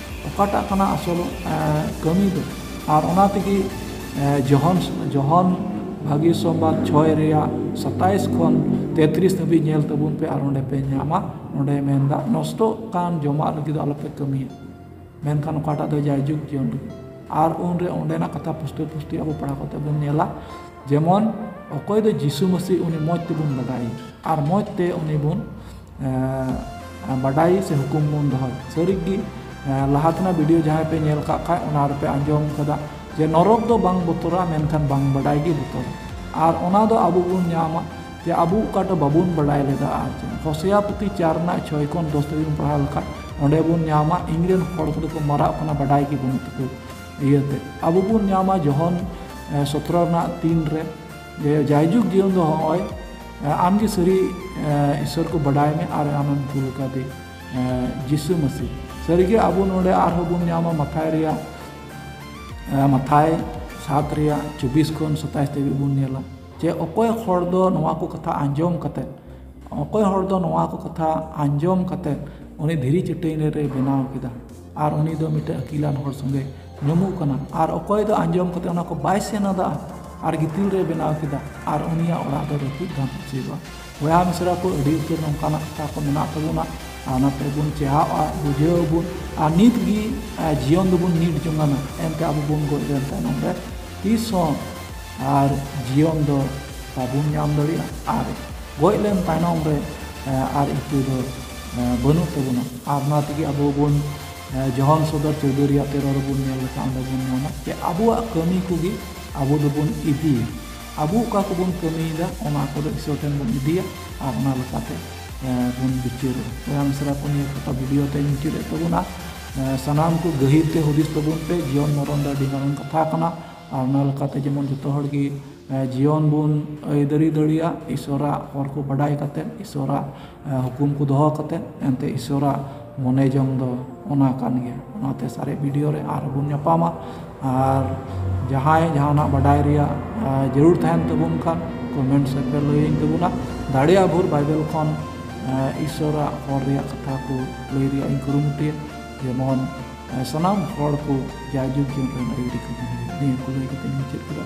ᱚᱠᱟᱴᱟᱜ ᱠᱟᱱᱟ ᱟᱥᱚᱞ ᱠᱟᱹᱢᱤ ᱫᱚ ᱟᱨ ᱚᱱᱟ ᱛᱮᱜᱮ ᱡᱚᱦᱚᱱ ᱡᱚᱦᱚᱱ ᱵᱷᱟᱹᱜᱤ ᱥᱚᱢᱵᱟᱫ ᱪᱷᱚᱭ ᱨᱮᱭᱟᱜ ᱥᱟᱛᱟᱥ ᱠᱷᱚᱱ ᱛᱮᱛᱨᱤᱥ ᱫᱷᱟᱹᱵᱤᱡ ᱧᱮᱞ ᱛᱟᱵᱚᱱ ᱯᱮ ᱟᱨ ᱚᱸᱰᱮ ᱯᱮ ᱧᱟᱢᱟ ᱚᱸᱰᱮ ᱢᱮᱱᱫᱟ ᱱᱚᱥᱴᱚᱜ ᱠᱟᱱ ᱡᱚᱢᱟᱜ ᱞᱟᱹᱜᱤᱫ ᱫᱚ ᱟᱞᱚᱯᱮ ᱠᱟᱹᱢᱤᱭᱟ ᱢᱮᱱᱠᱷᱟᱱ ᱚᱠᱟᱴᱟᱜ ᱫᱚ ᱡᱟᱭ ᱡᱩᱜᱽ ᱡᱤᱭᱚᱱ ᱞᱟᱹᱜᱤᱫ ᱟᱨ ᱩᱱᱨᱮ ᱚᱸᱰᱮᱱᱟᱜ ᱠᱟᱛᱷᱟ ᱯᱩᱥᱴᱟᱹ ᱯᱩᱥᱴᱤ ᱟᱵᱚ ᱯᱟᱲᱦᱟᱣ ᱠᱟᱛᱮ ᱵᱚᱱ ᱧᱮᱞᱟ ᱡᱮᱢᱚᱱ ᱚᱠᱚᱭ ᱫᱚ ᱡᱤᱥᱩ ᱢᱟᱹᱥᱤ ᱩᱱᱤ ᱢᱚᱡᱽ ᱛᱮᱵᱚᱱ ᱵᱟᱰᱟᱭᱮᱭᱟ ᱟᱨ ᱢᱚᱡᱽ ᱛᱮ ᱩᱱᱤ ᱵᱚᱱ ᱵᱟᱰᱟᱭ ᱥᱮ ᱦᱩᱠᱩᱢ ᱵᱚᱱ ᱫᱚᱦᱚᱭ ᱥᱟᱹᱨᱤ ᱜᱮ ᱞᱟᱦᱟ ᱛᱮᱱᱟᱜ ᱵᱷᱤᱰᱤᱭᱳ ᱡᱟᱦᱟᱸᱭ ᱯᱮ ᱧᱮᱞ ᱠᱟᱜ ᱠᱷᱟᱡ ᱚᱱᱟ ᱨᱮᱯᱮ ᱟᱸᱡᱚᱢ ᱠᱟᱫᱟ ᱡᱮ ᱱᱚᱨᱚᱠ ᱫᱚ ᱵᱟᱝ ᱵᱚᱛᱚᱨᱟ ᱢᱮᱱᱠᱷᱟᱱ ᱵᱟᱝ ᱵᱟᱰᱟᱭ ᱜᱮ ᱵᱚᱛᱚᱨᱟ ᱟᱨ ᱚᱱᱟ ᱫᱚ ᱟᱵᱚ ᱵᱚᱱ ᱧᱟᱢᱟ ᱡᱮ ᱟᱵᱚ ᱚᱠᱟᱴᱟᱜ ᱵᱟᱵᱚᱱ ᱵᱟᱰᱟᱭ ᱞᱮᱫᱟ ᱟᱨ ᱪᱮᱫ ᱦᱚᱥᱮᱭᱟ ᱯᱩᱛᱷᱤ ᱪᱟᱨ ᱨᱮᱱᱟᱜ ᱪᱷᱚᱭ ᱠᱷᱚᱱ ᱫᱚᱥ ᱫᱷᱟᱹᱵᱤᱡ ᱵᱚᱱ ᱯᱟᱲᱦᱟᱣ ᱞᱮᱠᱷᱟᱡ ᱚᱸᱰᱮ ᱵᱚᱱ ᱧᱟᱢᱟ ᱤᱧ ᱨᱮᱱ ᱦᱚᱲ ᱠᱚᱫᱚ ᱠᱚ ᱢᱟᱨᱟᱜ ᱠᱟᱱᱟ ᱵᱟᱰᱟᱭ ᱜᱮ ᱵᱟᱹᱱᱩᱜ ᱛᱟᱠᱚ ᱤᱭᱟᱹᱛᱮ ᱟᱵᱚ ᱵᱚᱱ ᱧᱟᱢᱟ ᱡᱚᱦᱚᱱ ᱥᱚᱛᱨᱚ ᱨᱮᱱᱟᱜ ᱛᱤᱱ ᱨᱮ ᱡᱮ ᱡᱟᱭᱡᱩᱜᱽ ᱡᱤᱭᱚᱱ ᱫᱚ ᱦᱚᱸᱜᱼᱚᱭ ᱟᱢ ᱜᱮ ᱥᱟᱹᱨᱤ ᱤᱥᱚᱨ ᱠᱚ ᱵᱟᱰᱟᱭ ᱢᱮ ᱟᱨ ᱟᱢᱮᱢ ᱠᱩᱞ ᱟᱠᱟᱫᱮ ᱡᱤᱥᱩ ᱢᱟᱹᱥᱤ ᱥᱟᱹᱨᱤ ᱜᱮ ᱟᱵᱚ ᱱᱚᱰᱮ ᱟᱨᱦᱚᱸ ᱵᱚᱱ ᱧᱟᱢᱟ ᱢᱟᱛᱷᱟᱭ ᱨᱮᱭᱟᱜ ᱢᱟᱛᱷᱟᱭ ᱥᱟᱛ ᱨᱮᱭᱟᱜ ᱪᱚᱵᱵᱤᱥ ᱠᱷᱚᱱ ᱥᱟᱛᱟᱥ ᱫᱷᱟᱹᱵᱤᱡ ᱵᱚᱱ ᱧᱮᱞᱟ ᱡᱮ ᱚᱠᱚᱭ ᱦᱚᱲ ᱫᱚ ᱱᱚᱣᱟ ᱠᱚ ᱠᱟᱛᱷᱟ ᱟᱸᱡᱚᱢ ᱠᱟᱛᱮ ᱚᱠᱚᱭ ᱦᱚᱲ ᱫᱚ ᱱᱚᱣᱟ ᱠᱚ ᱠᱟᱛᱷᱟ ᱟᱸᱡᱚᱢ ᱠᱟᱛᱮ ᱩᱱᱤ ᱫᱷᱤᱨᱤ ᱪᱟᱹᱴᱟᱹᱱᱤ ᱨᱮᱭ ᱵᱮᱱᱟᱣ ᱠᱮᱫᱟ ᱟᱨ ᱩᱱᱤ ᱫᱚ ᱢᱤᱫᱴᱮᱱ ᱟᱹᱠᱤᱞᱟᱱ ᱦᱚᱲ ᱥᱚᱸᱜᱮ ᱧᱟᱢᱚᱜ ᱠᱟᱱᱟ ᱟᱨ ᱚᱠᱚᱭ ᱫᱚ ᱟᱸᱡᱚᱢ ᱠᱟᱛᱮ ᱚᱱᱟ ᱠᱚ ᱵᱟᱭ ᱥᱮᱱ ᱟᱫᱟ ᱟᱨ ᱜᱤᱛᱤᱞ ᱨᱮ ᱵᱮᱱᱟᱣ ᱠᱮᱫᱟ ᱟᱨ ᱩᱱᱤᱭᱟᱜ ᱚᱲᱟᱜ ᱫᱚ ᱨᱟᱹᱯᱩᱫ ᱵᱟᱝ ᱦᱚᱪᱚᱭᱮᱫᱟ ᱵᱚᱭᱦᱟ ᱢᱤᱥᱨᱟ ᱠᱚ ᱟᱹᱰᱤ ᱩᱛᱟᱹᱨ ᱱᱚᱝᱠᱟᱱᱟᱜ ᱠᱟᱛᱷᱟ ᱠᱚ ᱢᱮᱱᱟᱜ ᱛᱟᱵᱚᱱᱟ ᱟᱨ ᱚᱱᱟ ᱛᱮᱵᱚᱱ ᱪᱮᱸᱜᱷᱟᱜᱼᱟ ᱵᱩᱡᱷᱟᱹᱣ ᱟᱵᱚᱱ ᱟᱨ ᱱᱤᱛ ᱜᱮ ᱡᱤᱭᱚᱱ ᱫᱚᱵᱚᱱ ᱱᱤᱴ ᱡᱚᱝᱟᱱᱟ ᱮᱱᱛᱮ ᱟᱵᱚ ᱵᱚᱱ ᱜᱚᱡ ᱞᱮᱱ ᱛᱟᱭᱱᱚᱢ ᱨᱮ ᱛᱤᱥ ᱦᱚᱸ ᱟᱨ ᱡᱤᱭᱚᱱ ᱫᱚ ᱵᱟᱵᱚᱱ ᱧᱟᱢ ᱫᱟᱲᱮᱭᱟᱜᱼᱟ ᱟᱨ ᱜᱚᱡ ᱞᱮᱱ ᱛᱟᱭᱱᱚᱢ ᱨᱮ ᱟᱨ ᱤᱛᱟᱹ ᱫᱚ ᱵᱟᱹᱱᱩᱜ ᱛᱟᱵᱚᱱᱟ ᱟᱨ ᱚᱱᱟ ᱛᱮᱜᱮ ᱟᱵᱚ ᱵᱚᱱ ᱡᱚᱦᱚᱱ ᱥᱚᱫᱚᱨ ᱪᱳᱣᱫᱚ ᱨᱮᱭᱟᱜ ᱛᱮᱨᱚ ᱨᱮᱵᱚᱱ ᱧᱮᱞ ᱞᱮᱠᱷᱟᱱ ᱚᱸᱰᱮ ᱵᱚᱱ ᱧᱟᱢᱟ ᱡᱮ ᱟᱵᱚᱣᱟᱜ ᱠᱟᱹᱢᱤ ᱠᱚᱜᱮ ᱟᱵᱚ ᱫᱚᱵᱚᱱ ᱤᱫᱤᱭᱟ ᱟᱵᱚ ᱚᱠᱟ ᱠᱚᱵᱚᱱ ᱠᱟᱹᱢᱤᱭᱮᱫᱟ ᱚᱱᱟ ᱠᱚᱫᱚ ᱤᱥᱚᱨ ᱴᱷᱮᱱ ᱵᱚᱱ ᱤᱫᱤᱭᱟ ᱟᱨ ᱚᱱᱟ ᱞᱮᱠᱟᱛᱮ ᱵᱚᱱ ᱵᱤᱪᱟᱹᱨᱚᱜᱼᱟ ᱵᱚᱭᱦᱟ ᱢᱤᱥᱨᱟ ᱠᱚ ᱱᱤᱭᱟᱹ ᱠᱟᱛᱷᱟ ᱵᱷᱤᱰᱤᱭᱳ ᱛᱮᱧ ᱢᱩᱪᱟᱹᱫ ᱮᱫ ᱛᱟᱵᱚᱱᱟ ᱥᱟᱱᱟᱢ ᱠᱚ ᱜᱟᱹᱦᱤᱨ ᱛᱮ ᱦᱩᱫᱤᱥ ᱛᱟᱵᱚᱱ ᱯᱮ ᱡᱤᱭᱚᱱ ᱢᱚᱨᱚᱱ ᱫᱚ ᱟᱹᱰᱤ ᱢᱟᱨᱟᱝ ᱠᱟᱛᱷᱟ ᱠᱟᱱᱟ ᱟᱨ ᱚᱱᱟ ᱞᱮᱠᱟᱛᱮ ᱡᱮᱢᱚᱱ ᱡᱚᱛᱚ ᱦᱚᱲ ᱜᱮ ᱡᱤᱭᱚᱱ ᱵᱚᱱ ᱟᱹᱭᱫᱟᱹᱨᱤ ᱫᱟᱲᱮᱭᱟᱜ ᱤᱥᱥᱚᱨᱟᱜ ᱦᱚᱨ ᱠᱚ ᱵᱟᱰᱟᱭ ᱠᱟᱛᱮᱫ ᱤᱥᱥᱚᱨᱟᱜ ᱦᱩᱠᱩᱢ ᱠᱚ ᱫᱚᱦᱚ ᱠᱟᱛᱮᱫ ᱮᱱᱛᱮ ᱤᱥᱥᱚᱨᱟᱜ ᱢᱚᱱᱮ ᱡᱚᱝ ᱫᱚ ᱚᱱᱟ ᱠᱟᱱ ᱜᱮᱭᱟ ᱚᱱᱟᱛᱮ ᱥᱟᱨᱮᱡ ᱵᱷᱤᱰᱭᱳ ᱨᱮ ᱟᱨᱦᱚᱸ ᱵᱚᱱ ᱧᱟᱯᱟᱢᱟ ᱟᱨ ᱡᱟᱦᱟᱸᱭ ᱡᱟᱦᱟᱸᱱᱟᱜ ᱵᱟᱰᱟᱭ ᱨᱮᱭᱟᱜ ᱡᱟᱹᱨᱩᱲ ᱛᱟᱦᱮᱸᱱ ᱛᱟᱵᱚᱱ ᱠᱷᱟᱱ ᱠᱚᱢᱮᱱᱴ ᱥᱮᱫ ᱨᱮ ᱞᱟᱹᱭ ᱟᱹᱧ ᱛᱟᱵᱚᱱᱟ ᱫᱟᱲᱮᱭᱟᱜ ᱵᱷᱳᱨ ᱵᱟᱭᱵᱮᱞ ᱠᱷᱚᱱ ᱤᱥᱥᱚᱨᱟᱜ ᱦᱚᱨ ᱨᱮᱭᱟᱜ ᱠᱟᱛᱷᱟ ᱠᱚ ᱞᱟᱹᱭ ᱨᱮᱭᱟᱜ ᱤᱧ ᱠᱩᱨᱩᱢᱩᱴᱩᱭᱟ ᱡᱮᱢᱚᱱ ᱥᱟᱱᱟᱢ ᱦᱚᱲ ᱠᱚ ᱡᱟᱭ ᱡᱩᱜᱽ ᱡᱤᱭᱚᱱ ᱨᱮᱱ ᱟᱹᱭᱫᱟᱹᱨᱤ ᱠᱚ ᱧᱟᱢ ᱱᱤᱭᱟᱹ ᱠᱚ ᱞᱟᱹᱭ ᱠᱟᱛᱮᱫ ᱤᱧ ᱢᱩᱪᱟᱹᱫ ᱠᱮᱫᱟ